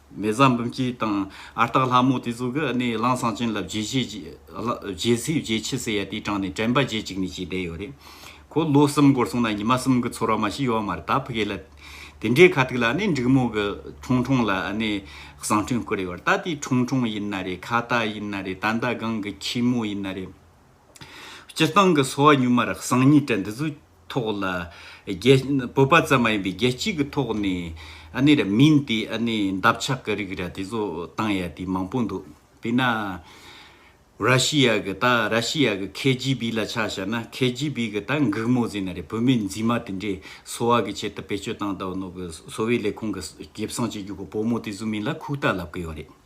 མེ་བཟའ་འབུམ་སྐྱིད་དང་ཨ་སྟག་ལྷ་མོ་དེ་ཚོ་གི་གནས་གླང་ཟངས་ཅན་ལ་བརྗེ་ཆས་བརྗེ་སྲིད་བརྗེ་ཆས་ཟེར་ཡ་དེ་དྲངས་ནས་དྲན་པ་བརྗེད་ཅིག་ནས་བྱས་བསྡད་ཡོད་རེད། ཁོ་ལོ་གསུམ་འགོར་སོང་ན་ཉི་མ་གསུམ་གི་ཚོར་བ་མ་ཤི་ཡོད་མ་རེད་ད་ཕི་གེ་ལ་དེ་འདྲའི་ཁ་ཐུག་ལ་གནས་འགྲིག་མོ་གི་ཁྲུང་ཁྲུང་ལ་གནས་བཟང་ཁྲུང་བསྐུར་ཡོད་རེད་ད་དེ་ཁྲུང་ཁྲུང་ཡིན་ན་རེད་ཁ་བཏགས་ཡིན་ན་རེད་ད་མདའ་གང་གི་ཁྱི་མོ་ཡིན་ན་རེད། སྤྱིར་བཏང་གི་སོ་བ་གཉུག་མར་གསང་གཉིས་བྲལ་འདི་ཚོའི་ཐོག་ལ། བོད་པ་ཙམ་མ་ཡིན་པའི་རྒྱལ་སྤྱི་གི་ཐོག་ནས་ཨ་ནི་ར་མིན་དེ་ཨ་ནི་འདབ་ཆགས་ཀྱི་རིགས་ར་དེ་ཚོ་བཏང་ཡ་དེ་མང་པོ་འདུག་དེས་ན། ར་ཤི་ཡ་གི་ད་ར་ཤི་ཡ་གི་ཁེ་ཇི་བི་ལ་ཆགས་བྱ་ན་ཁེ་ཇི་བི་གི་ད་འགུག་མོ་ཟེར་ན་རེད་བོད་མི་འཛིན་མ་དེ་འདྲས་སོ་བ་གི་ཆེད་དུ་བེད་སྤྱོད་བཏང་ད་བ་ནོ་གི་སོ་བའི་ལས་ཁུངས་གི་གེབ་སངས་བྱེད་རྒྱུ་གི་བོ་མོ་དེ་ཚོ་མིན་ལ་ཁུག་རྟ་ལབ་ཀི་ཡོ་རེད།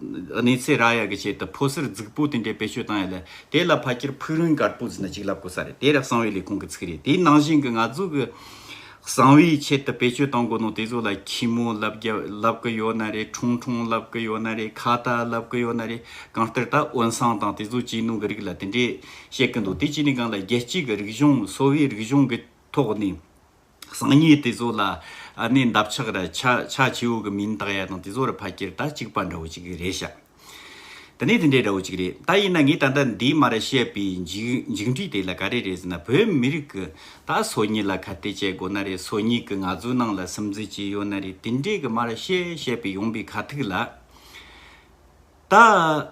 གནས་ཚེ་ར་ཡར་གྱི་ཆེད་དུ་ཕོ་གསར་རྫིག་པོ་དེ་འདྲས་བེད་སྤྱོད་བཏང་ཡོད་ལ། དེ་ལ་ཕ་ཁྱེར་ཕུག་རོན་དཀར་པོ་ཟེར་ནས་གཅིག་ལབ་དགོས་ས་རེད་དེ་རག་གསང་བའི་ལས་ཁུངས་ཀྱི་ཚིག་རེད་དེའི་ནང་བཞིན་གྱི་ང་ཚོ་གི། གསང་བའི་ཆེད་དུ་བེད་སྤྱོད་བཏང་དགོས་ནོ་དེ་ཚོ་ལ་ཁྱི་མོ་ལབ་རྒྱ་ལབ་གི་ཡོད་ན་རེད་ཁྲུང་ཁྲུང་ལབ་གི་ཡོད་ན་རེད་ཁ་བཏགས་ལབ་གི་ཡོད་ན་རེད་གང་ལྟར་ད་དབོན་སང་དང་དེ་ཚོ་གཅིག་ནུས་གི་རིགས་ལ་དེ་འདྲས་བཤད་གི་འདུག་དེ་གཅིག་ནས་གང་ལ་རྒྱལ་སྤྱི་གི་རིག་གཞུང་གསོ་བའི་རིག་གཞུང་གི་ཐོག་ནས། སང་ཉིན་དེ་ཚོ་ལ་ནས་འདབ་ཆགས་ར་ཆ་ཆ་ཆེའུ་གི་མིང་བཏགས་ཡ་དང་དེ་ཚོ་ར་ཕ་ཁྱེར་ད་གཅིག་པ་འདྲ་བོ་ཅིག་རེད་ཤག་དེ་ནས་དེ་འདྲའི་འདྲ་བོ་ཅིག་རེད་ད་ཡིན་ན་ངས་ད་ལྟ་འདིའི་མ་ར་བཤད་པའི་འཇིགས་འཇིགས་འགྲིས་དེ་ལ་ག་རེ་རེད་ཟེར་ན་བོད་མི་རིགས་ཀྱི་ད་སོ་ཉིད་ལ་ཁ་གཏད་བཅད་དགོས་ན་རེད་སོ་ཉིད་ཀྱི་ང་ཚོའི་ནང་ལ་སིམ་འཛུལ་བྱས་ཡོད་ན་རེད་དེ་འདྲའི་གི་མ་ར་བཤད་བཤད་པའི་ཡོང་པའི་ཁ་ཐུག་ལ། ད་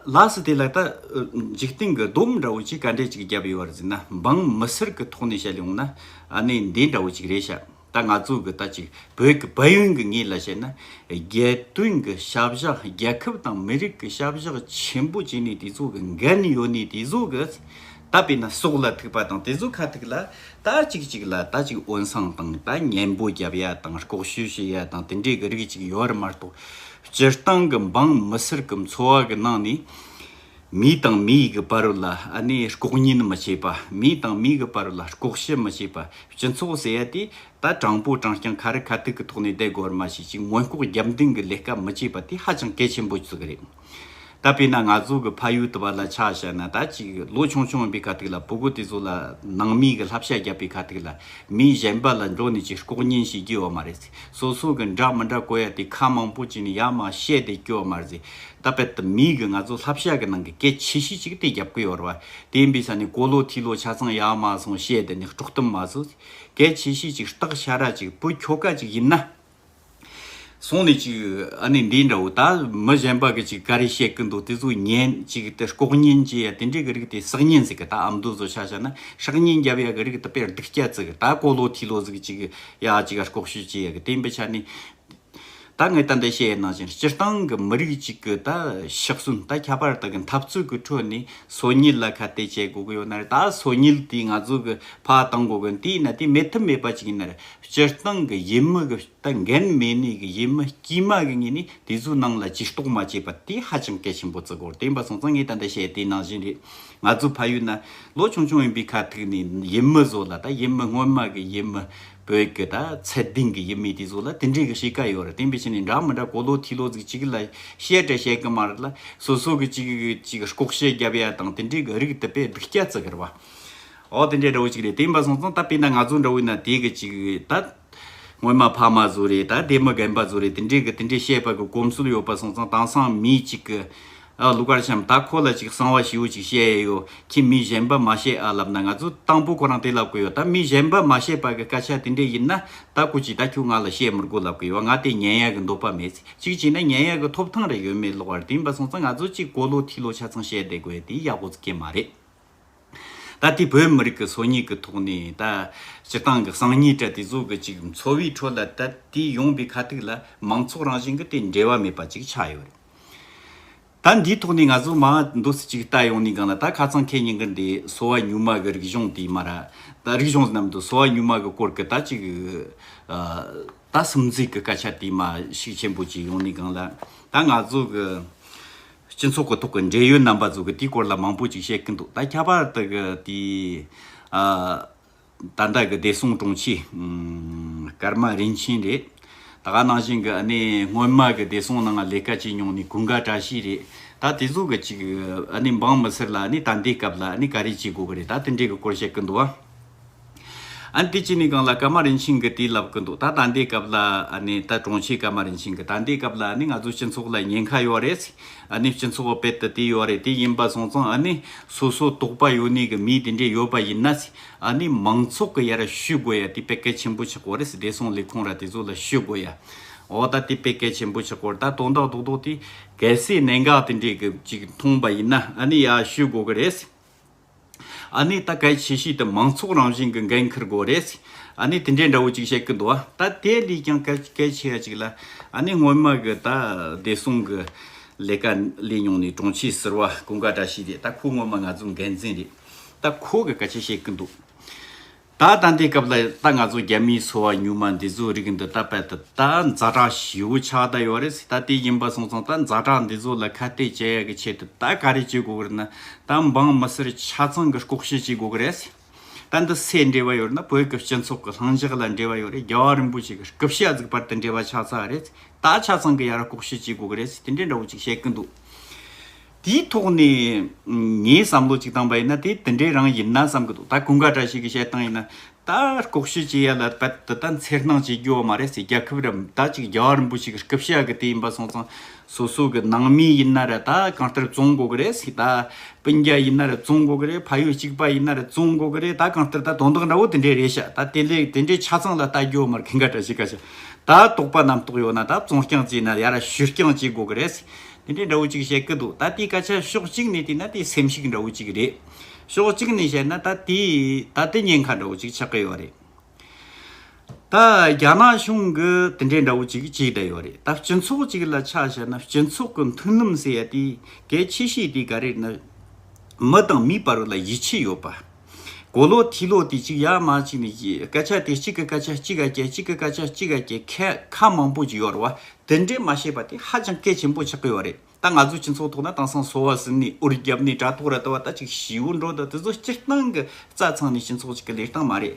ལགས་སུ་དེ་ལ་ལྟ། འཇིག་རྟེན་གྱི་སྡོམ་འདྲ་བོ་ཅིག་ག་འདྲས་ཅིག་བརྒྱབ་ཡོད་པར་ཟིན་ན་འབངས་མི་སེར་གྱི་ཐོག་ནས་བཤད་ལོང་ན་གནས་འདས་འདྲ་བོ་ཅིག་རེད་ཤག་ད་ང་ཚོ་གི་ལྟ་ཅིག་བོད་ཀྱི་བལ་ཡུལ་གྱི་ངོས་ལ་བཤད་ན་རྒྱལ་དོན་གྱི་ཤ་བཞག་རྒྱལ་ཁབ་དང་མི་རིགས་ཀྱི་ཤ་བཞག་ཆེན་པོ་བྱས་ནས་དེ་ཚོ་གི་འགན་ཡོད་ནས་དེ་ཚོ་གི་ད་བས་ན་སྲོག་ལ་ཐུག་པ་དང་དེ་ཚོ་ཁ་ཐུག་ལ་ད་ཅིག་ཅིག་ལ་ད་ཅིག་འོན་སངས་དང་ད་ཉན་པོ་བརྒྱབ་ཡ་དང་ལྐོག་ཤོས་བྱེད་ཡ་དང་དེ་འདྲས་གྱི་རིགས་ཅིག་ཡོད་མ་གཏོགས་སྤྱིར་བཏང་གི་འབངས་མི་སེར་གྱི་འཚོ་བ་གི་ནང་ནས། མི་དང་མི་གི་བར་ལ་ནི་ལྐོག་ཉན་མི་བྱེད་པ། མི་དང་མི་གི་བར་ལ་ལྐོག་ཤི་མི་བྱེད་པ། སྤྱི་ཚོགས་ཟེར་ཡ་དེ་ད་དྲང་པོ་དྲང་རྐྱང་ཁ་རི་ཁ་ཐུག་གི་ཐོག་ནས་བསྡད་དགོས་བར་མ་ཞིག་ཅིག་མངོན་ལྐོག་རྒྱབ་འདིང་གི་ལས་ཀ་མི་བྱེད་པ་དེ་ཧ་ཅང་གལ་ཆེན་པོ་ཟིག་རེད། ད་དཔེར་ན་ང་ཚོ་གི་ཕ་ཡུལ་དུ་བ་ལ་ཆ་བཞག་ན་ད་ཅིག་ལོ་ཆུང་ཆུང་ཡིན་པའི་ཁ་ཐུག་ལ་བུ་གུ་དེ་ཚོ་ལ་ནང་མི་གི་ལྷབ་ཤ་རྒྱབ་པའི་ཁ་ཐུག་ལ་མིའི་གཞན་པ་ལ་འགྲོ་ནས་ཅིག་ལྐོག་ཉན་བྱེད་རྒྱུ་ཡོད་མ་རེད། སོ་སོ་གི་འདྲ་མི་འདྲ་གོ་ཡ་དེ་ཁ་མང་པོ་ཅིག་ནི་ཡ་མ་བཤད་དེ་སྐྱོ་མ་རེད། ད་པད་དུ་མིག་གི་ང་ཚོ་ལྷ་བཤད་གི་ནང་གི་སྐད་ཆེ་ཤོས་ཅིག་དེ་རྒྱབ་གི་ཡོད་ར་བ་དེ་འབི་ས་ནི་གོ་ལོ་ཐི་ལོ་ཆ་ཚང་ཡ་མ་སོང་བཤད་དེ་ནི་དཀྲོག་གཏམ་མ་བཟོ། སྐད་ཆེ་ཤོས་ཅིག་སྟག་ཤ་ར་ཅིག་བུ་ཁྱོ་ཀ་ཅིག་ཡིན་ན། སོང་ནི་ཅིག་ཨ་ནི་འདི་འདྲ་བོ་ད་མི་གཞན་པ་གི་ཅིག་ག་རེ་བཤད་གི་འདུག་དེ་ཚོ་ཉན་ཅིག་དེ་ལྐོག་ཉན་བྱེད་ཡ་དེ་འདྲའི་གི་རིགས་དེ་བསགས་ཉན་ཟིག་གི་ད་ཨམ་དུ་བཟོ་ཆ་ཤ་ན་ཧྲག་ཉན་རྒྱབ་ཡ་གི་རིགས་དེ་པད་སྡུག་སྐྱ་ཚིག་གི་ད་གོ་ལོ་ཐི་ལོ་ཟིག་ཅིག་ཡ་གཅིག་ག་ལྐོག་ཤོས་ཅི་ཡ་གི་བསྟན་པའི་ཆ་ནས། ད་ངས་ད་འདི་བཤད་ཡོད་ནང་བཞིན་སྤྱིར་བཏང་གི་མི་རིགས་གཅིག་གི་ད་ཕྱག་སྲུང་ད་ཁྱད་པར་དག་གི་འཐབ་རྩོད་གི་ཁྲོད་ནས་སོ་ཉིལ་ལ་ཁ་གཏད་བྱེད་དགོས་གི་ཡོད་ན་རེད་ད་སོ་ཉིལ་དེ་ང་ཚོ་གི་ཕ་གཏང་དགོས་གི་དེ་ཡིན་ན་དེ་མེད་ཐབས་མེད་པ་ཅིག་ཡིན་ན་རེད་སྤྱིར་བཏང་གི་ཡིད་མི་གི་ད་འགན་མེད་ནས་གི་ཡིད་མི་དཀྱུས་མ་གི་ངོས་ནས་དེ་ཚོའི་ནང་ལ་ཇུས་གཏོགས་མ་བྱས་པ་དེ་ཧ་ཅང་གལ་ཆེན་པོ་བརྩི་དགོས་རེད་བསྟན་པ་སོང་ཙང་ངས་ད་འདི་བཤད་ཡོད་དེ་ནང་བཞིན་རེད། ང་ཚོ་ཕ་ཡུལ་ན་ལོ་ཆུང་ཆུང་ཡིན་པའི་ཁ་ཐུག་ནས་ཡུལ་མི་བཟོ་ལ་ད་ཡུལ་མི་སྔོན་མ་གི་ཡུལ་མི་བོད་ཀྱི་ད་ཚད་ལྡན་གྱི་ཡུལ་མི་དེ་བཟོ་ལ་དེ་འདྲའི་གི་བྱེད་ཀ་ཡོད་རེད་དེ་འབའ་ཞིག་ནས་འདྲ་མི་འདྲ་གོ་ལོ་ཐི་ལོ་ཟིག་ཅིག་ལ་བཤད་བྲལ་བཤད་གི་མ་རེད་ལ་སོ་སོ་གི་ཅིག་གི་ཅིག་ལྐོག་བཤད་རྒྱབ་ཡ་དང་དེ་འདྲའི་གི་རིགས་དེ་པས་སྡིག་སྐྱ་བརྩི་གི་རེད་བ། འོ་དེ་འདྲའི་འདྲ་བོ་ཅིག་རེད་དེ་འབའ་སོང་ཙང་ད་པས་ན་ང་ཚོ་འདྲ་བོའི་ན་དེ་གི་ཅིག་ད། སྔོན་མ་ཕ་མ་བཟོ་རེས་དང་སྡེ་མི་རྒན་པ་བཟོ་རེས་དེ་འདྲའི་གི་དེ་འདྲའི་བཤད་པ་གི་གོམས་སྲོལ་ཡོད་པ་སོང་ཙང་དྭངས་སང་མི་གཅིག་གི། ཨ་ལུ་ཀར་ཤམ་ད་ཁོ་ལ་ཅིག་གསང་བ་ཞིའུ་ཅིག་བཤད་ཡས་ཡོད་ཁྱི་མི་གཞན་པ་མ་བཤད་ཨ་ལབ་ན་ང་ཚོ་དང་པོ་ཁོ་རང་དེ་ལབ་གི་ཡོད་ད་མི་གཞན་པ་མ་བཤད་པ་གི་སྐད་ཆ་དེ་འདྲའི་ཡིན་ན་ད་ཁོ་ཅིག་ད་ཁྱོད་ང་ལ་བཤད་མི་དགོས་ལབ་གི་ཡོད་ང་དེ་ཉན་ཡས་གི་འདོད་པ་མེད་ཚེ་ཅིག་བྱས་ན་ཉན་ཡས་གི་ཐོབ་ཐང་རེ་ཡོད་མེད་ལོག་བར་དེ་ཡིན་པ་སོང་ཙང་ང་ཚོ་ཅིག་གོ་ལོ་ཐིག་ལོ་ཆ་ཚང་བཤད་བསྡད་དགོས་དེ་ཡག་པོ་ཙི་གེ་མ་རེད། ད་ལྟའི་བོད་མི་རིགས་ཀྱི་སོ་ཉིས་ཀྱི་ཐོག་ནས་ད་སྤྱི་བཏང་གི་གསང་ཉིས་དྲ་དེ་ཚོ་གི་ཅིག་འཚོ་བའི་ཁྲོད་ལ་ད་ལྟའི་ཡོང་པའི་ཁ་ཐུག་ལ་མང་ཚོགས་རང་བཞིན་གྱི་དེ་འབྲེལ་བ་མེད་པ་ཅིག་ཆགས་ཡོད་རེད། ད་འདིའི་ཐོག་ནས་ང་ཚོ་མ་འདོད་སི་ཅིག་བལྟ་ཡོང་ནས་གང་ལ་ད་ཁ་ཚང་ཁེ་ཉིན་གྱི་འདི་སོ་བ་ཉུལ་མ་གི་རིག་གཞུང་དེ་མ་ར་ད་རིག་གཞུང་རྣམས་དུ་སོ་བ་ཉུལ་མ་གི་སྐོར་གྱི་ད་ཅིག་ད་སིམ་འཛུལ་གྱི་སྐད་ཆ་དེ་མ་ཤིག་ཆེན་པོ་ཅིག་ཡོང་ནས་གང་ལ་ད་ང་ཚོ་གི་སྤྱི་ཚོགས་ཀྱི་ཐོག་གི་འབྲེལ་ཡོད་རྣམ་པ་ཚོས་དེའི་སྐོར་ལ་མང་པོ་ཅིག་བཤད་ཀྱི་འདུག་ད་ཁྱད་པར་དུ་དེའི་ད་ལྟ་གི་བདེ་སྲུང་དྲུང་ཆེ་ཀརྨ་རིན་ཆེན་རེད། ད་ག་ནང་བཞིན་གྱི་གནས་སྔོན་མ་གི་བདེ་སྲུང་ནང་ལས་ཀ་བྱས་མྱོང་ནས་གུས་འགའ་བཀྲ་ཤིས་རེད། ད་དེ་ཚོ་གི་ཅིག་འབངས་མི་སེར་ལ་ད་འདའི་སྐབས་ལ་ག་རེ་བྱེད་དགོས་ཀྱི་རེད་ད་དེ་འདྲའི་གི་སྐོར་བཤད་ཀྱི་འདུག་བ། ཨ་ཏི་ཅི་ནི་གང་ལ་ཀར་མ་རིན་ཆེན་གྱི་དུས་ལབ་གི་འདུག་ད་ད་འདའི་སྐབས་ལ་ནི་ད་གྲོང་ཁྱེར་ཀར་མ་རིན་ཆེན་གྱི་ད་འདའི་སྐབས་ལ་ནི་ང་ཚོའི་སྤྱི་ཚོགས་ལ་ཉེན་ཁ་ཡོད་རེད་ཨ་ནི་སྤྱི་ཚོགས་དཔེ་དེ་དེ་ཡོད་རེད་དེ་ཡིན་པ་སོང་ཙང་ཨ་ནི་སོ་སོ་གཏོགས་པ་ཡོད་ནི་གི་མི་དེ་འདྲས་ཡོད་པ་ཡིན་ན་ཨ་ནི་མང་ཚོགས་གི་ཡ་ར་ཞུས་དགོས་ཡ་དེ་དཔེ་གལ་ཆེན་པོ་ཆགས་གོ་རེད་བདེ་སྲུང་ལས་ཁུངས་ར་དེ་ཚོ་ལ་ཞུས་དགོས་ཡ་འོ་ད་དེ་དཔེ་གལ་ཆེན་པོ་ཆགས་གོ་རེད་ད་དོན་དག་དོག་དོག་དེ་གལ་སྲིད་གནད་འགག་དེ་འདྲས་གི་ཅིག་མཐོང་པ་ཡིན་ན་ཨ་ནི་ཡ་ཞུས་དགོས་གི་རེད། ཨ་ནི་ད་གལ་ཆེ་ཤོས་དེ་མང་ཚོགས་རང་བཞིན་གྱི་འགན་འཁུར་དགོས་རེད། ཨ་ནི་དེ་འདྲའི་འདྲ་བོ་ཅིག་བཤད་ཀྱི་འདུག་ཨ་ད་དེ་ལས་ཀྱང་གལ་ཆེ་ཧ་ཅིག་ལ་ཨ་ནི་སྔོན་མ་གི་ད་བདེ་སྲུང་གི་ལས་ཀ་ལས་མྱོང་ནས་དྲུང་ཆེ་ཟེར་བ་ཀུན་དགའ་བཀྲ་ཤིས་རེད་ད་ཁོ་སྔོན་མ་ང་ཚོའི་འགན་འཛིན་རེད་ད་ཁོ་གི་གལ་ཆེ་བཤད་ཀྱི་འདུག། ད་ལྟ་འདི་སྐབས་ལ་ད་ང་ཚོ་རྒྱ་མིའི་ཚོ་བ་ཉུང་མ་འདི་ཚོ་རིགས་འདི་ད་པད་དུ་ད་མཛའ་གྲགས་ཞེའུ་ཆགས་གདའ་ཡོད་རེད་ད་དེ་ཡིན་པ་སོང་ཙང་ད་མཛའ་གྲགས་འདི་ཚོ་ལ་ཁ་གཏད་བྱེད་ཡག་གི་ཆེད་དུ་ད་ག་རེ་བྱེད་དགོས་གི་རེད་ན་ད་འབངས་མི་སེར་ཆ་ཚང་གི་ལྐོག་བཤད་བྱེད་དགོས་གི་རེད། ད་འདི་སེ་འབྲེལ་བ་ཡོད་ན་བོད་ཀྱི་སྤྱི་ཚོགས་ཀྱི་ལྷང་འཇགས་ལ་འབྲེལ་བ་ཡོད་རེད་རྒྱལ་བ་རིན་པོ་ཆེ་གི་སྐུ་ཞབས་གཟིགས་པར་དེ་འབྲེལ་བ་ཆགས་ཚར་རེད་ད་ཆ་ཚང་གི་ཡར་ལྐོག་བཤད་བྱེད་དགོས་གི་རེད་དེ་འདྲའི་འདྲ་བོ་ཅིག་བཤད་གི་འདུག། དེའི་ཐོག་ནས་ངའི་བསམ་བློ་གཅིག་བཏང་པ་ཡིན་ན་དེ་དེ་འདྲའི་རང་ཡིན་ན་བསམ་གི་འདུག་ད་ཀུན་དགའ་འདྲ་ཞིག་གི་བཤད་སྟངས་ཡིན་ན་ད་ལྐོག་ཤུལ་བྱེད་ཡ་ལ་ད་དེ་ལྟར་འཚེར་སྣང་བྱེད་རྒྱུ་བ་མ་རེད་ཟེར་རྒྱ་ཁབ་རམ་ད་ཅིག་རྒྱ་བ་རིན་པོ་ཆེ་གི་སྐུ་བཤད་གི་དེ་ཡིན་པ་སོང་ཙང་སོ་སོ་གི་ནང་མི་ཡིན་ན་རེད་ད་གང་ལྟར་བཙོང་དགོ་གི་རེད་ཟེར་ད་སྤུན་རྒྱ་ཡིན་ན་རེད་བཙོང་དགོ་གི་རེད་ཕ་ཡུལ་གཅིག་པ་ཡིན་ན་རེད་བཙོང་དགོ་གི་རེད་ད་གང་ལྟར་ད་དོན་དག་འདྲ་བོ་དེ་འདྲའི་རེད་ཤག་ད་དེ་ལས་དེ་འདྲའི་ཆ་ཚང་ལ་ལྟ་རྒྱུ་བ་མ་རེད་ཀུན་དགའ་འདྲ་ཞིག་ག་ཤག་ད་དོགས་པ་རྣམས་དོགས་ཡོད་ན་ད་བཙོང་རྐྱང་བྱེད་ན་ཡ་ར་ཞུ་རྐྱང་བྱེད་དགོ་གི་རེད་ཟེར་དེ་འདྲའི་འདྲ་བོ་ཅིག་བཤད་ཀི་འདུག་ད་དེའི་སྐད་ཆ་ཕྱོགས་གཅིག་ནས་བལྟས་ན་དེ་སེམས་ཤུགས་འདྲ་བོ་ཅིག་རེད། ཕྱོགས་གཅིག་ནས་བཤད་ན་ད་དེ་ད་ལྟའི་ཉེན་ཁ་འདྲ་བོ་ཅིག་ཆགས་ཀི་ཡོད་རེད། ད་རྒྱ་ནག་གཞུང་གི་དེ་འདྲའི་འདྲ་བོ་ཅིག་བྱས་བསྡད་ཡོད་རེད་ད་སྤྱི་ཚོགས་ཅིག་ལ་ཆ་བཤད་ན་སྤྱི་ཚོགས་ཀི་མཐུན་ལམ་ཟེར་ཡ་དེ་གལ་ཆེ་ཤོས་དེ་ག་རེད་ན། མི་དང་མིའི་བར་ལ་ཡིད་ཆེས་ཡོད་པ། གོ་ལོག་ཐིག་ལོག་དེ་གཅིག་ཡར་མར་གཅིག་ནས་གཅིག་སྐད་ཆ་དེ་གཅིག་གི་སྐད་ཆ་གཅིག་ག་སྐད་གཅིག་གི་སྐད་ཆ་གཅིག་ག་སྐད་ཁ་ཁ་མང་པོ་གཅིག་ཡོད་རེད་བ་དེ་འདྲས་མ་ཤེས་པ་དེ་ཧ་ཅང་གལ་ཆེན་པོ་ཆགས་ཀྱི་ཡོད་རེད་ད་ང་ཚོའི་སྤྱི་ཚོགས་ཐོག་ན་དེང་སང་སོ་བ་ཟིན་ནས་དབུ་རྒྱབ་ནས་དྲ་ཐོག་ར་ལྟ་བ་ལྟ་ཅིག་བྱིའུ་འགྲོ་ལྟ་དེ་ཚོ་སྤྱིར་བཏང་གི་རྩ་ཚང་ནས་སྤྱི་ཚོགས་གཅིག་གི་ལས་སྟངས་མ་རེད།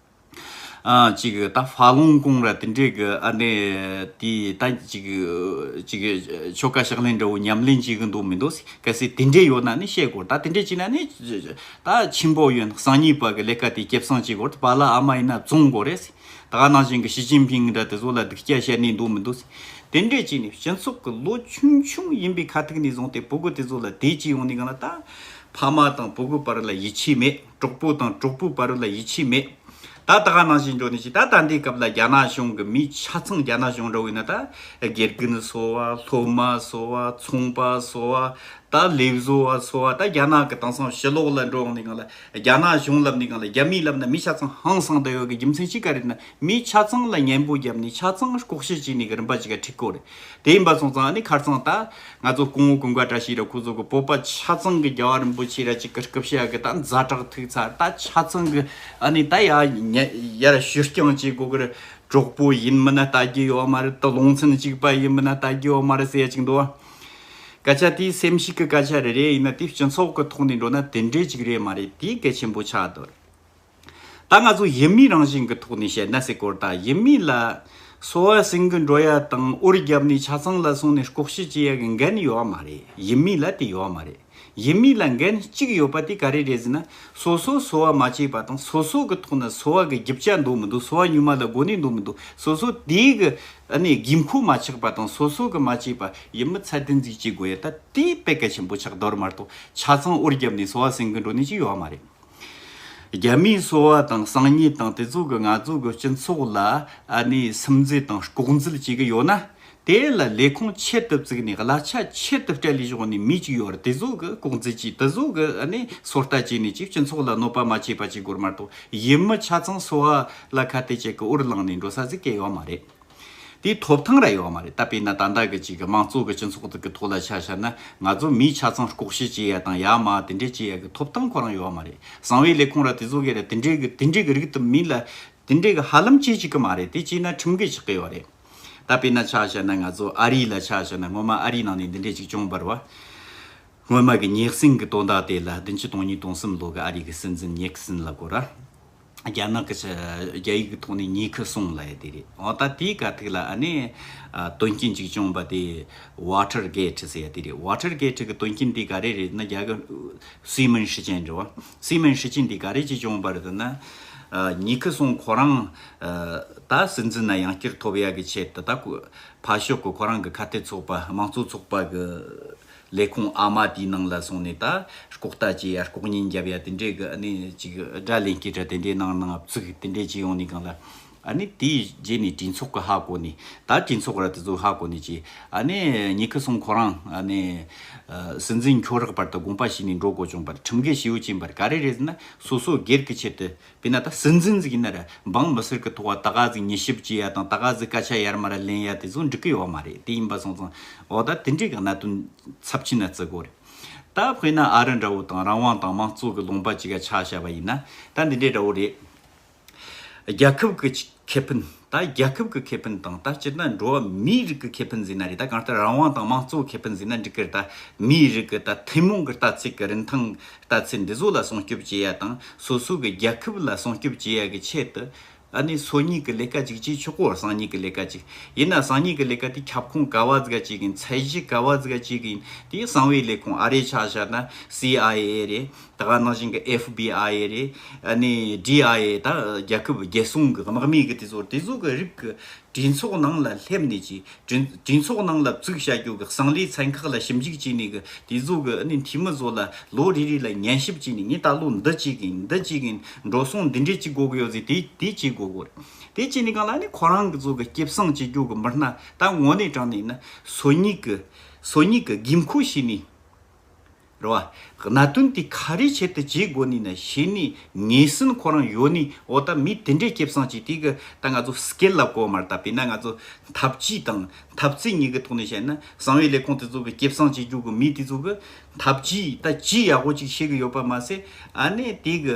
ཅིག་ད་ཧྥ་ལུང་ཀོང་ར་དེ་འདྲའི་གི་ཨ་ནེ་དེ་ད་ཅིག་ཅིག་ཆོ་ག་ཕྱག་ལེན་འདྲ་བོ་ཉམས་ལེན་བྱེད་གི་འདུག་མི་འདུག་གལ་སྲིད་དེ་འདྲའི་ཡོད་ན་ནི་བཤད་དགོས་ད་དེ་འདྲའི་བྱེད་ན་ནི་ད་ཆེན་པོ་ཡོན་ཧྲང་གཉིས་པ་གི་ལས་ཀ་དེ་སྐྱེད་བསྲང་བྱེད་དགོས་རེད་བ་ལ་ཨ་མ་ཡིན་ན་བཙོང་དགོས་རེད་ད་ག་ནང་བཞིན་གི་ཞི་ཅིན་ཕིང་འདྲ་དེ་ཚོ་ལ་སྡིག་སྐྱག་བཤད་ནི་འདུག་མི་འདུག་དེ་འདྲའི་བྱེད་ནི་སྤྱི་ཚོགས་གི་ལོ་ཆུང་ཆུང་ཡིན་པའི་ཁ་ཐུག་ནས་བཟུང་སྟེ་བུ་གུ་དེ་ཚོ་ལ་དེ་བྱེད་ཡོང་ནི་གང་ལ་ད་ཕ་མ་དང་བུ་གུ་བར་ལ་ཡིད་ཆེས་མེད། གྲོགས་པོ་དང་གྲོགས་པོའི་བར་ལ་ཡིད་ཆེས་མེད། ད་ལྟ་ག་ནང་བཞིན་འགྱོ་ནི་ཅི་ད་ད་འདའི་སྐབས་ལ་རྒྱ་ནག་གཞུང་གི་མི་ཆ་ཚང་རྒྱ་ནག་གཞུང་འདྲ་བོ་ཡིན་ན་ད་དགེ་རྒན་བཟོ་བ་སློབ་མ་བཟོ་བ་ཚོང་པ་བཟོ་བ་ད་ལས་བཟོ་བ་བཟོ་བ་ད་རྒྱ་ནག་གི་དེང་སང་ཞི་ལོག་ལ་འགྲོ་འོང་ནི་གང་ལ་རྒྱ་ནག་གཞུང་ལབ་ནི་གང་ལ་རྒྱ་མི་ལབ་ན་མི་ཆ་ཚང་ཧང་སང་དུ་ཡོད་གི་རྒྱུ་མཚན་ཅི་ག་རེད་ན་མི་ཆ་ཚང་ལ་ཉན་པོ་རྒྱབ་ནི་ཆ་ཚང་ལྐོག་བཤད་བྱས་ནི་གི་རིམ་པ་ཅི་ག་ཁྲིག་གོ་རེད། དེ་ཡིན་པ་སོང་ཙང་ནི་ཁར་ཙང་ད། ང་ཚོ་སྐུ་ངོ་ཀུན་དགའ་བཀྲ་ཤིས་ར་ཁོ་ཚོ་གི་སྤོབས་པ་ཆ་ཚང་གི་རྒྱལ་བ་རིན་པོ་ཆེ་ར་གཅིག་གི་སྐུ་ཕྱྭ་གི་ད་མཛའ་གྲགས་ཐུག་ཚར་ད་ཆ་ཚང་གི་ཨ་ནི་ད་ཡ་ཡར་བཞུ་རྐྱང་བྱེད་དགོ་གི་གྲོགས་པོ་ཡིན་མི་ན་ད་རྒྱལ་ཡོ་མ་རི་ད་ལོང་ཚན་གཅིག་པ་ཡིན་མི་ན་ད་རྒྱལ་ཡོ་མ་རི་སེ་གཅིག་འདུག་སྐད་ཆ་དེ་སེམས་ཤིག་གི་སྐད་ཆ་རེ་རེ་ཡིན་ན་དེ་སྤྱི་ཚོགས་གི་ཐོག་ནས་འགྲོ་ན་དེ་འདྲས་གཅིག་རེད་མ་རེད་དེ་གལ་ཆེན་པོ་ཆགས་འདུག། ད་ང་ཚོ་ཡུལ་མིའི་རང་བཞིན་གྱི་ཐོག་ནས་བཤད་ན་སའི་སྐོར་དང་ཡུལ་མི་ལ་སོ་བ་སིང་གི་འགྲོ་ཡ་དང་ཨུར་རྒྱབ་ནས་ཆ་ཚང་ལ་སོང་ནས་ལྐོག་བཤད་བྱེད་ཡ་གི་འགན་ཡོད་བ་མ་རེད་ཡུལ་མི་ལ་དེ་ཡོད་བ་མ་རེད་ཡུལ་མི་ལ་འགན་གཅིག་ཡོད་པ་དེ་ག་རེ་རེད་ཟེར་ན་སོ་སོ་སོ་བ་མ་བྱས་པ་དང་སོ་སོ་གི་ཐོག་ན་སོ་བ་གི་རྒྱུ་བྱ་འདུག་མི་འདུག་སོ་བ་ཉུལ་མ་ལ་དགོས་ནས་འདུག་མི་འདུག་སོ་སོ་དེ་གི་དགོས་མཁོ་མ་ཆགས་པ་དང་སོ་སོ་གི་མ་བྱས་པ་ཡུལ་མི་ཚད་ལྡན་ཟིག་བྱེད་དགོས་ཡ་ད་དེའི་དཔེ་གལ་ཆེན་པོ་ཆགས་འདོར་མ་གཏོགས་ཆ་ཚང་ཨུར་རྒྱབ་ནས་སོ་བ་སིང་གི་འགྲོ་ནས་ཅི་ཡོད་བ་མ་རེད། རྒྱ་མིའི་སོ་བ་དང་སང་ཉིད་དང་དེ་ཚོ་གི་ང་ཚོ་གི་སྤྱི་ཚོགས་ལ་ཨ་ནི་སིམ་འཛུལ་དང་ལྐོག་འཛུལ་བྱེད་གི་ཡོད་ན། དེ་ལ་ལས་ཁུངས་ཆེད་དུ་བཙུགས་ནས་གླ་ཆ་ཆེད་དུ་སྤྲད་ལས་གཞུང་ནས་མི་གཅིག་ཡོད་ར་དེ་ཚོ་གི་ལྐོག་འཛུལ་གྱིས་དེ་ཚོ་གི་ཨ་ནི་སོ་ལྟ་བྱས་ནས་ཅིག་སྤྱི་ཚོགས་ལ་གནོད་པ་མ་བྱས་པ་བྱེད་དགོས་མ་གཏོགས་ཡིན་མི་ཆ་ཚང་སོ་བ་ལ་ཁ་གཏད་ཅིག་གི་འུར་ལངས་ནས་འགྲོ་ས་ཟིག་གེ་ཡོད་མ་རེད། དེའི་ཐོབ་ཐང་ར་ཡོད་བ་མ་རེད་ད་དཔེ་ན་ད་ལྟ་གི་ཅིག་དམངས་གཙོ་གི་སྤྱི་ཚོགས་དག་གི་ཐོག་ལ་ཆ་བཤར་ན་ང་ཚོ་མིའི་ཆ་ཚང་ལྐོག་ཤལ་བྱེད་ཡ་དང་ཡ་མ་དེ་འདྲས་བྱེད་ཡ་གི་ཐོབ་ཐང་ཁོ་རང་ཡོད་བ་མ་རེད་གསང་བའི་ལས་ཁུངས་ར་དེ་ཚོ་གི་ར་དེ་འདྲས་གི་དེ་འདྲས་གི་རིགས་དུ་མིན་ལ་དེ་འདྲས་གི་ཧ་ལམ་བྱེད་ཅིག་གི་མ་རེད་དེ་བྱེད་ན་ཁྲིམས་འགལ་ཆགས་གི་ཡོད་བ་རེད་ད་དཔེ་ན་ཆ་བཤར་ན་ང་ཚོ་ཨ་རི་ལ་ཆ་བཤར་ན་སྔོན་མ་ཨ་རི་ནང་ནས་འདི་འདྲས་ཅིག་བྱུང་བར་བ་སྔོན་མ་གི་ཉེག་སྲིང་གི་དོན་དག་དེ་ལ་བདུན་ཅུ་དང་གཉིས་དང་གསུམ་ལོ་གི་ཨ་རི་གི་སྲིད་འཛིན་ཉེག་སིན་ལ་གོ་ར། རྒྱ་ནག་གི་རྒྱ་ཡིག་གི་ཐོག་ནས་ཉེ་ཁི་སོང་ལ་ཡ་དེ་རེད་འོ་ད་དེའི་ག་ཐིག་ལ་ཨ་ནི་དོན་རྐྱེན་གཅིག་བྱུང་བ་དེ Water Gate ཟེར་ཡ་དེ་རེད Water Gate གི་དོན་རྐྱེན་དེ་ག་རེ་རེད་ན་རྒྱ་གི་སི་མན་ཧྲི་ཅན་འདྲི་བ་སི་མན་ཧྲི་ཅན་དེ་ག་རེ་གཅིག་བྱུང་བ་རེད་ད་ན་ཉེ་ཁི་སོང་ཁོ་རང་ད་སྲིད་འཛིན་ན་ཡང་བསྐྱུར་ཐོབ་ཡ་གི་ཆེད་དུ་ད་ཕར་ཞོག་གི་ཁོ་རང་གི་ཁ་གཏད་ཚོགས་པ་དམངས་གཙོ་ཚོགས་པ་གི་ལས་ཁུངས་ཨ་མ་དེའི་ནང་ལ་སོང་ནས་ད་ལྐོག་ལྟ་བྱེད་ཡ་ལྐོག་ཉན་རྒྱབ་ཡ་དེ་འདྲའི་གི་ནི་ཅིག་སྒྲ་ལེན་སྐད་སྒྲ་དེ་འདྲའི་ནང་ནང་བརྩིགས་དེ་འདྲའི་བྱེད་ཡོང་ནས་གང་ལ། ཨ་ནི་དེའི་རྗེས་ནས་གྲིན་ཚོགས་གི་ཧ་གོ་ནས་ད་གྲིན་ཚོགས་ར་དེ་ཚོ་ཧ་གོ་ནས་ཅིག་ཨ་ནི་ཉི་ཁི་སོང་ཁོ་རང་ཨ་ནི་སྲིད་འཛིན་འཁྱོག་རག་པར་ད་དགོངས་པ་བྱས་ནས་འགྲོ་གོ་བྱུང་པར་ཁྲིམས་འགལ་བྱེད་ཡོད་ཅེས་པར་ག་རེ་རེད་ཟེར་ན་སོ་སོ་སྒེར་གི་ཆེད་དུ་དཔེར་ན་ད་སྲིད་འཛིན་ཟིག་ཡིན་ན་ར་འབངས་མི་སེར་གི་ཐོག་བ་ད་ག་ཟིག་མྱི་ཞིབ་བྱེད་ཡ་དང་ད་ག་ཟིག་སྐད་ཆ་ཡར་མ་ར་ལེན་ཡ་དེ་ཚོ་འགྲིག་གི་ཡོད་མ་རེད་དེ་ཡིན་པ་སོང་ཙང་འོ་ད་དེ་འདྲའི་གི་གནད་དོན་ཚབས་ཆེན་ན་བརྩི་གོ་རེད་ད་དཔེར་ན་ཨ་རི་འདྲ་བོ་དང་རང་དབང་དང་མང་གཙོ་གི་ལུང་པ་གཅིག་ག་ཆགས་བྱ་བ་ཡིན་ན་ད་འདི་འདྲའི་འདྲ་བོ་རེད་རྒྱལ་ཁབ་གི་ཁེ་ཕན། ད་རྒྱལ་ཁབ་ཀྱི་ཁེ་ཕན་དང་ད་སྤྱིར་ན་འགྲོ་བ་མིའི་རིགས་ཀྱི་ཁེ་ཕན་ཟེར་ན་རེད་ད་གང་ལྟར་རང་དབང་དང་དམངས་གཙོའི་ཁེ་ཕན་ཟེར་ན་འགྲིག་གི་ད་མིའི་རིགས་ཀྱི་ད་ཐུན་མོང་གི་ལྟ་ཚིག་གི་རིན་ཐང་ལྟ་ཚུལ་འདི་ཚོ་ལ་སྲུང་སྐྱོབ་བྱེད་ཡ་དང་སོ་སོ་གི་རྒྱལ་ཁབ་ལ་སྲུང་སྐྱོབ་བྱེད་ཡ་གི་ཆེད་དུ་ཨ་ནི་སོ་གཉིས་ཀྱི་ལས་ཀ་གཅིག་ཅེས་ཆོག་གོ་སང་གཉིས་ཀྱི་ལས་ཀ་གཅིག་ཡིན་ན་སང་གཉིས་ཀྱི་ལས་ཀ་དེ་ཁྱབ་ཁོངས་ག་བ་ཛྒ་ཅིག་ཡིན་ཚད་གཞི་ག་བ་ཛྒ་ཅིག་ཡིན་དེ་གསང་བའི་ལས་ཁུངས་ཨ་རེ་ཆགས་ཆགས་ན CIA རེད་ད་ག་ནང་བཞིན་གྱི FBI རེད་ནས DIA ད་རྒྱལ་ཁབ་རྒྱལ་སྲུང་གྱི་དམག་མི་གྱི་དེ་ཚོར་དེ་ཚོ་གྱི་རིགས་གྱི་གྲོས་ཚོགས་ནང་ལ་སླེབས་ནས་ཀྱི་གྲོས་ཚོགས་ནང་ལ་བཙུགས་བྱ་རྒྱུ་གྱི་གསང་ལས་ཚན་ཁག་ལ་ཞིབ་འཇུག་བྱས་ནས་གྱི་དེ་ཚོ་གྱི་ནས་འཐུས་མི་ཚོ་ལ་ལོ་རེ་རེ་ལ་ཉན་ཞིབ་བྱས་ནས་ངས་ད་ལོ་འདི་བྱེད་གིན་འདི་བྱེད་གིན་འགྲོ་སོང་འདི་འདྲས་བྱེད་དགོས་གྱི་ཡོད་ཟེར་དེ་དེ་བྱེད་དགོས་གྱི་རེད་དེ་བྱས་ནས་གང་ལ་ནས་ཁོ་རང་གྱི་ཚོ་གྱི་སྐྱེད་བསྲིང་བྱེད་རྒྱུ་གྱི་མི་སྣ་ད་ངོ་ནས་དྲངས་ནས་ནི་སོ་གཉིས་གྱི་སོ་གཉིས་གྱི་དགོས་མཁོ་བྱས་ནས། རེད་བ། གནའ་དོན་དེ་ག་རེའི་ཆེད་དུ་བྱས་དགོས་ནི་ན་བྱས་ནི་ངེས་ཟིན་ཁོ་རང་ཡོད་ནི་འོ་ད་མི་དེ་འདྲས་སྐྱེབ་སངས་ཀྱིས་དེ་གི་ད་ང་ཚོ་སྐད་ལ་གོ་མར་ད་པེ་ན་ང་ཚོ་འཐབ་ཇུས་དང་འཐབ་རྩིས་གཉིས་གི་ཐོག་ནས་བཤད་ན་གསང་བའི་ལས་ཁུངས་དེ་ཚོ་གི་སྐྱེབ་སངས་བྱེད་རྒྱུ་གི་མི་དེ་ཚོ་གི་འཐབ་ཇུས་ད་ཇི་ཡག་པོ་ཅིག་བཤད་གི་ཡོད་པ་མ་ཟད་ཨ་ནེ་དེ་གི་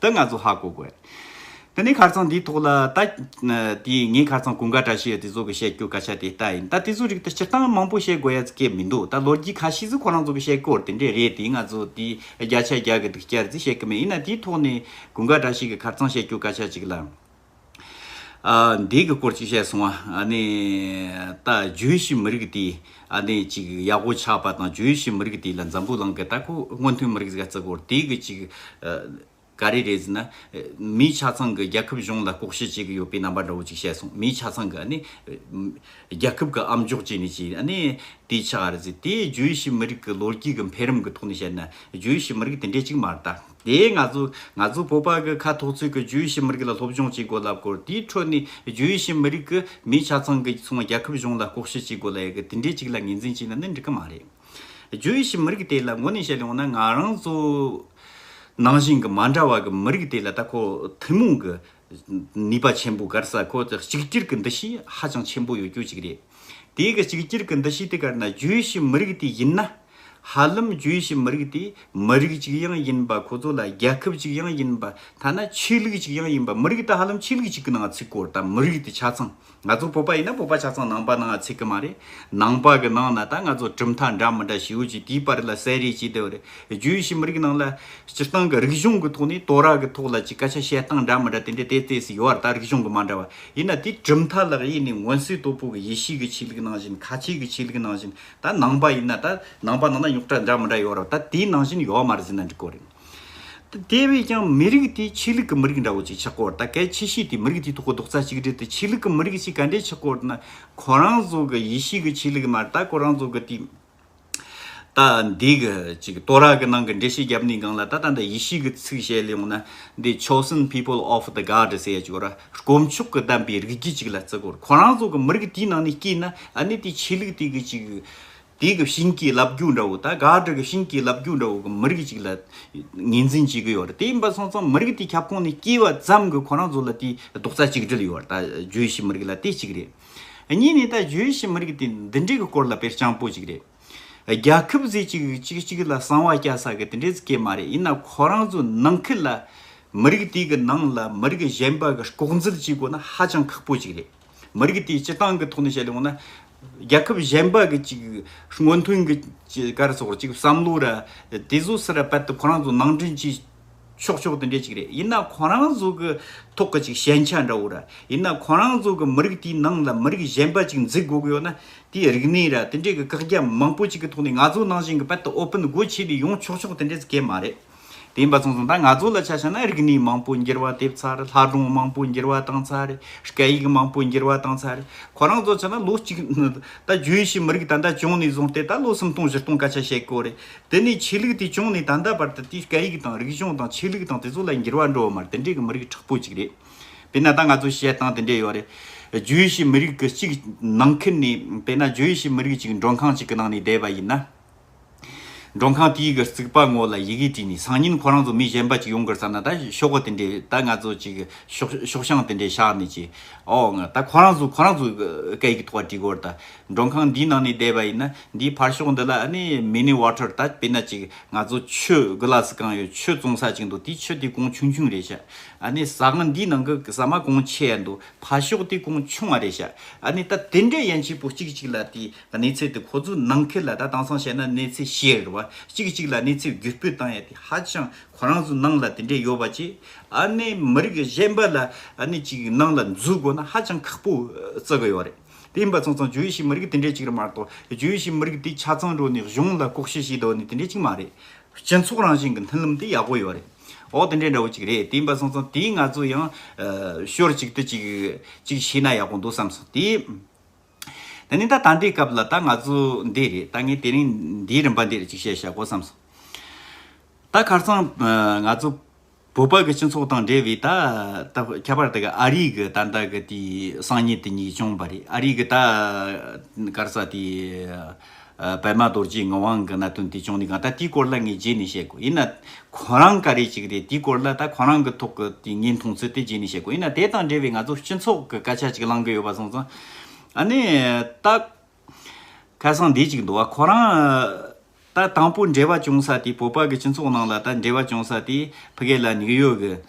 དེ་ང་ཚོ་ཧ་གོ་དགོས། དེ་ནས་གར་ཚང་འདིའི་ཐོག་ལ་ད་དེ་ངས་གར་ཚང་གུང་དགའ་བཀྲ་ཤིས་ཡོད་དེ་ཚོ་གི་བཤད་རྒྱུ་ག་ཆ་དེ་ལྟ་ཡིན་ད་དེ་ཚོ་རིགས་ད་སྤྱིར་བཏང་མང་པོ་བཤད་དགོས་ཡ་ཙི་ཀས་མི་འདུག་ད་ལོ་རྒྱུས་ཁ་ཤས་ཚོ་ཁོ་རང་ཚོ་གི་བཤད་སྐོར་དེ་འདྲས་རེད་དེ་ང་ཚོ་དེ་བརྒྱ་ཆ་བརྒྱ་གི་འདུག་བསྐྱར་ཙི་བཤད་གི་མེད་ཡིན་ན་དེའི་ཐོག་ནས་གུང་དགའ་བཀྲ་ཤིས་ཀི་གར་ཚང་བཤད་རྒྱུ་ག་ཆ་ཅིག་ལ། འདི་གི་སྐོར་ཅིག་བཤད་སོང་བ། ད་ཇུའི་ཤི་མི་རིགས་དེ་ཅིག་ཡག་པོ་ཆགས་པ་དང་ཇུའི་ཤི་མི་རིགས་དེ་ལ་འཛམ་བུ་གླང་གི་ད་ཁོ་སྔོན་ཐོན་མི་རིགས་གཟའ་རྩི་སྐོར་དེ་གི་ཅིག་ག་རེ་རེད་ཟེར་ན། མིའི་ཆ་ཚང་གི་རྒྱལ་ཁབ་གཞུང་ལ་ལྐོག་བཤད་བྱེད་གི་ཡོད་པའི་རྣམ་པ་འདྲ་བོ་ཅིག་བཤད་སོང་མིའི་ཆ་ཚང་གི་རྒྱལ་ཁབ་གི་ཨམ་འཇོག་བྱས་ནས་ཅིག་དེ་ཆགས་རེད་ཟེར་དེ་ཇུའི་ཤི་མི་རིགས་གི་ལོ་རྒྱུས་གི་འཕེལ་རིམ་གི་ཐོག་ནས་བཤད་ན་ཇུའི་ཤི་མི་རིགས་དེ་འདྲས་ཅིག་མ་རེད་ད། དེས་ང་ཚོ་ང་ཚོ་བོད་པ་གི་ཁ་ཐོག་ཚོས་ཀྱི་བྱོས་ཞི་མི་རིགས་ལ་སློབ་སྦྱོང་བྱེད་དགོས་ལབ་སྐོར་དེའི་ཁྲོད་ནས་བྱོས་ཞི་མི་རིགས་ཀྱི་མི་ཆ་ཚང་གི་ཚོང་རྒྱལ་ཁབ་གཞུང་ལ་ལྐོག་ཞི་བྱེད་དགོས་ལ་ཡི་གི་དེ་འདྲའི་ཅིག་ལ་ངེས་འཛིན་བྱེད་ན་ནི་འགྲིག་གི་མ་རེད་བྱོས་ཞི་མི་རིགས་དེ་ལ་ངོ་ནས་བཤད་ཡོང་ན་ང་རང་ཚོ་ནང་བཞིན་གི་མ་འདྲ་བ་གི་མི་རིགས་དེ་ལ་ད་ཁོ་ཐུན་མོང་གི་ནུས་པ་ཆེན་པོ་དགར་ས་ཁོ་ཐག་གཅིག་གྱུར་གྱི་འདུ་ཤེས་ཧ་ཅང་ཆེན་པོ་ཡོད་རྒྱུ་གཅིག་རེད། དེ་གི་གཅིག་གྱུར་གྱི་འདུ་ཤེས་དེ་དགར་ན་རྒྱུའི་ཕྱི་མི་རིགས་དེ་ཡིན་ན། ཧ་ལམ་རྒྱུའི་ཕྱི་མི་རིགས་དེ་མི་རིགས་གཅིག་ཡང་ཡིན་པ་ཁོ་ཚོ་ལ་རྒྱལ་ཁབ་གཅིག་ཡང་ཡིན་པ་ཐ་ན་ཆོས་ལུགས་གཅིག་ཡང་ཡིན་པ་མི་རིགས་དེ་ཧ་ལམ་ཆོས་ལུགས་གཅིག་གི་ནང་ཚུད་སྐོར་དང་མི་རིགས་དེ་ཆ་ཚང་ང་ཚོ་བོད་པ་ཡིན་ན་བོད་པ་ཆ་ཚང་ནང་པ་ནང་ང་ཚིག་གི་མ་རེད། ནང་པ་གི་ནང་ན་ད་ང་ཚོ་གྲུབ་མཐའ་འདྲ་མི་འདྲ་ཞིག་ཡོད་ཅིག་དེའི་བར་ལ་གསལ་རེས་བྱེད་བདེ་བ་རེད། རྒྱུའི་ཕྱི་མི་རིགས་ནང་ལ་སྤྱིར་བཏང་གི་རིག་གཞུང་གི་ཐོག་ནས་དོ་ར་གི་ཐོག་ལ་ཅིག་སྐད་ཆ་བཤད་སྟངས་འདྲ་མི་འདྲ་དེ་འདྲ་དེ་ལྟས་སུ་ཡོད་བ་ད་རིག་གཞུང་གི་མ་འདྲ་བ་ཡིན་ན་དེ་གྲུབ་མཐའ་ལག་གཡས་ནས་མངོན་གསལ་དོད་པོ་གི་ཡེ་ཤེས་གི་ཆོས་ལུགས་ནང་བཞིན་ཁ་ཆེ་གི་ཆོས་ལུགས་ནང་བཞིན་ད་ནང་པ་ཡིན་ན་ད་ནང་པ་ནང་ན་རྙོག་དྲ་འདྲ་མི་འདྲ་ཡོད་བ་ད་དེའི་ནང་བཞིན་ཡོད་མ་རེད་ཟེར་ན་འགྲིག་གོ་རེད། དེ་བས་ཀྱང་མི་རིགས་དེ་ཆོས་ལུགས་ཀྱི་མི་རིགས་འདྲ་བོ་ཅིག་ཆགས་སྐོར་དང་གལ་ཆེ་ཤོས་དེ་མི་རིགས་དེའི་ཐོག་གི་རྡོག་རྩ་གཅིག་སྒྲིལ་དང་ཆོས་ལུགས་ཀྱི་མི་རིགས་ཤིག་ག་འདྲས་ཆགས་སྐོར་དང། ཁོ་རང་ཚོ་གི་ཡེ་ཤུའི་གི་ཆོས་ལུགས་མ་གཏོགས་ཁོ་རང་ཚོ་གི་དེ། ད་འདི་གི་ཅིག་གཏོ་ར་གི་ནང་གི་འགྲེལ་བཤད་རྒྱབ་ནས་གང་ལ་ད་ལྟ་འདི་ཡེ་ཤུའི་གི་ཚིག་བཤད་ལེའོ་ན་འདི chosen people of the God ཟེར་ཡ་ཅིག་གོ་ར་དཀོན་མཆོག་གི་བདམས་པའི་རིགས་རྒྱུད་ཅིག་ལ་བརྩི་སྐོར་ཁོ་རང་ཚོ་གི་མི་རིགས་དེའི་ནང་ནས་སྐྱེས་ན་ཨ་ནི་དེ་ཆོས་ལུགས་དེ་གི་ཅིག་དེ་གི་བྱིན་གྱིས་བརླབས་རྒྱུ་འདྲ་བོ་དང་དགག་སྒྲུབ་ཀྱི་བྱིན་གྱིས་བརླབས་རྒྱུ་འདྲ་བོ་གི་མི་རིགས་ཅིག་ལ་ངེས་འཛིན་བྱེད་ཀྱི་ཡོད་རེད་དེ་ཡིན་པ་སོང་ཙང་མི་རིགས་དེའི་ཁྱབ་ཁོངས་ནས་སྐྱེས་བ་ཙམ་གྱི་ཁོ་རང་ཚོ་ལ་དེའི་རྡོག་རྩ་གཅིག་སྒྲིལ་ཡོད་རེད་ད་བརྗོད་བྱའི་མི་རིགས་ལ་དེ་གཅིག་རེད། གཉིས་ནས་ད་བརྗོད་བྱའི་མི་རིགས་དེ་འདི་འདྲའི་གི་སྐོར་ལ་དཔེར་བྱང་པོ་ཅིག་རེད། རྒྱ་ཁབ་ཟེར་གཅིག་གཅིག་གཅིག་ལ་གསང་བ་སྐྱ་ས་གི་དེ་འདྲའི་སྐད་མ་རེད་ཡིན་ན་ཁོ་རང་ཚོ་ནང་ཁུལ་ལ་མི་རིགས་དེ་གི་ནང་ལ་མི་རིགས་གཞན་པ་གི་ལྐོག་འཛུལ་བྱེད་དགོས་ན་ཧ་ཅང་ཁག་པོ་ཅིག་རེད། མི་རིགས་དེའི་སྤྱི་བཏང་གི་ཐོག་ནས་བཤད་ཡོང་ན། རྒྱལ་ཁབ་གཞན་པ་གི་ཅིག་སྔོན་ཐོན་གི་ཀར་སོགས་ཅིག་བསམ་བློ་ར་དེ་ཟོ་སི་ར་དཔལ་དུ་ཁོ་རང་ཚོ་ནང་འདྲེན་གྱིས་ཆོག་ཆོག་དེ་འདྲས་ཅིག་རེད་ཡིན་ན་ཁོ་རང་ཚོ་གི་ཐོག་གི་ཅིག་ཞན་ཆ་འདྲ་བོ་ར་ཡིན་ན་ཁོ་རང་ཚོ་གི་མི་རིགས་དེའི་ནང་ལ་མི་རིགས་གཞན་པ་ཅིག་འཛིག་དགོ་གི་ཡོད་ན་དེའི་རིག་གནས་ར་དེ་འདྲས་གི་བཀག་རྒྱ་མང་པོ་ཅིག་གི་ཐོག་ནས་ང་ཚོ་ནང་བཞིན་གི་དཔལ་དུ་ཨོ་ཕིན་སྒོ་ཕྱེས་ནས་ཡོང་ཆོག་ཆོག་དེ་འདྲས་ཀས་མ་རེད། དེ་ཡིན་པ་མཚུངས་སོང་ད་ང་ཚོ་ལ་ཆ་བཞག་ན་རིག་གནས་མང་པོ་འགྱུར་བ་ཐེབས་ཚར་ལྷ་སྒྲུང་མང་པོ་འགྱུར་བ་བཏང་ཚར་སྐད་ཡིག་མང་པོ་འགྱུར་བ་བཏང་ཚར་ཁོ་རང་ཚོ་ཆ་ན་ལོ་གཅིག་ད་རྒྱུན་ཤེས་མི་རིགས་ད་ལྟ་བྱུང་ནས་བཟུང་སྟེ་ད་ལོ་སུམ་སྟོང་བཞི་སྟོང་སྐད་ཆ་བཤད་དགོས་རེད་དེ་ནས་ཆོས་ལུགས་དེ་བྱུང་ནས་ད་ལྟ་བར་དུ་དེའི་སྐད་ཡིག་དང་རིག་གཞུང་དང་ཆོས་ལུགས་དང་དེ་ཚོ་ལ་འགྱུར་བ་འགྲོ་བ་མ་རེད་དེ་འདྲའི་གི་མི་རིགས་དྲག་པོ་ཅིག་རེད་དེ་ན་ད་ང་ཚོ་བཤད་སྟངས་དེ་འདྲས་ཡོད་རེད་རྒྱུན་ཤེས་མི་རིགས་གཅིག་ནང་ཁུལ་ནས་དེ་ན་རྒྱུན་ཤེས་མི་རིགས་གཅིག་མགྲོན་ཁང་གཅིག་གི་ནང་ནས་བསྡད་པ་ཡིན་ན། མགྲོན་ཁང་དེའི་གི་རྩིག་པ་ངོ་ལ་ཡི་གེ་བྲིས་ནས་སང་ཉིན་ཁོ་རང་ཚོ་མི་གཞན་པ་ཅིག་ཡོང་གི་རེད་བསམ་ན་ད་ཤོག་གོ་དེ་འདྲས་ད་ང་ཚོ་ཅིག་ཤོག་ཤོག་ཤང་དེ་འདྲས་བཞག་ནས་ཅིག་འོང་ད་ཁོ་རང་ཚོ་ཁོ་རང་ཚོ་གི་སྐད་ཡིག་གི་ཐོག་བྲིས་དགོས་རེད་ད་མགྲོན་ཁང་འདིའི་ནང་ནས་བསྡད་པ་ཡིན་ན་འདིའི་ཕར་ཤོག་འདི་ལ་ཨ་ནི Mini Water ད་དཔེར་ན་ཅིག་ང་ཚོ་ཆུ་གི་ལ་སི་གང་ཡོད་ཆུ་བཙོང་ས་ཅིག་འདུག་དེའི་ཆུ་དེ་གོང་ཆུང་ཆུང་རེད་བྱ་ཨ་ནི་ཟ་ང་འདིའི་ནང་གི་ཟ་མ་གོང་ཆེ་ཡ་འདུག་ཕར་ཤོག་དེ་གོང་ཆུང་བ་རེད་བྱ་ཨ་ནི་ད་དེ་འདྲས་ཡན་ཆད་པོ་གཅིག་ཅིག་ལ་དེ་གནས་ཚུལ་དེ་ཁོ་ཚོའི་ནང་ཁུལ་ལ་ད་དྭངས་སང་བཤད་ན་གནས་ཚུལ་ཤེས་རིག་བ་གཅིག་གིས་གཅིག་ལ་གནས་ཚུལ་བརྒྱུད་སྤུས་བཏང་ཡ་དེ་ཧ་ཅང་ཁོ་རང་ཚོའི་ནང་ལ་དེ་འདྲས་ཡོད་པ་ཅི་ཨ་ནས་མི་རིགས་གཞན་པ་ལ་ཨ་ནས་ཅིག་ནང་ལ་འཛུལ་དགོས་ན་ཧ་ཅང་ཁག་པོ་བརྩི་གི་ཡོད་རེད་དེ་ཡིན་པ་ཚང་ཚང་རྗོའུ་ཤིའི་མི་རིགས་དེ་འདྲས་ཅིག་རེད་མ་གཏོགས་རྗོའུ་ཤིའི་མི་རིགས་དེ་ཆ་ཚང་འགྲོ་ནས་གཞུང་ལ་ལྐོག་ཤི་ཞིག་དོར་ནས་དེ་འདྲས་ཅིག་མ་རེད་སྤྱི་ཚོགས་རང་བཞིན་གྱི་མཐུན་ལམ་དེ་ཡག་པོ་ཡོད་རེད་འོ་དེ་འདྲས་འདྲ་བོ་ཅིག་རེད་དེ་ཡིན་པ་ཚང་ཚང་དེ་ང་ཚོ་ཡང་ཞོར་གཅིག་ཏུ་ཅིག་ཅིག་བྱས་ན་ཡག་པོ་འདུག་བསམ་སོང་དེ། ད་ནི་ད་ད་འདི་སྐབས་ལ་ད་ང་ཚོ་འདི་རེད་ད་ངས་དེ་རིང་འདིའི་རིམ་པ་འདིར་ཅིག་བཤད་བཞག་གོ་བསམ་སོང། ད་ཁར་སང་ང་ཚོ་བོད་པ་གི་སྤྱི་ཚོགས་དང་འབྲེལ་བའི་ད་ད་ཁྱད་པར་དུ་གི་ཨ་རིག་གི་ད་ད་གི་དེའི་སང་ཉིན་དེ་ཉིག་བྱུང་བ་རེད་ཨ་རིག་གི་ད་གར་ས་དེའི། པདྨ་རྡོ་རྗེའི་ངག་དབང་གི་གནད་དོན་དེ་བྱུང་ནས་གང་ལྟར་དེའི་སྐོར་ལ་ངས་རྗེས་ནས་བཤད་དགོས་ཡིན་ན། ཁོ་རང་ག་རེ་ཅིག་རེད་དེའི་སྐོར་ལ་ད་ཁོ་རང་གི་ཐོག་གི་དེ་ངའི་མཐོང་ཚུལ་དེ་རྗེས་ནས་བཤད་དགོས་ཡིན་ན་དེ་དང་འབྲེལ་བའི་ང་ཚོ་སྤྱི་ཚོགས་ཀྱི་སྐད་ཆ་ཅིག་གླང་གི་ཡོད་པ་སོང་ཙང་ཨ་ནི་ད། ཁ་སང་དེ་ཅིག་འདུག་ཨ་ཁོ་རང། ད་དང་པོ་འབྲེལ་བ་བྱུང་ས་དེ་བོད་པ་གི་སྤྱི་ཚོགས་ནང་ལ་ད་འབྲེལ་བ་བྱུང་ས་དེ་ཕི་གེ་ལ་ནིག་ཡོ་གི།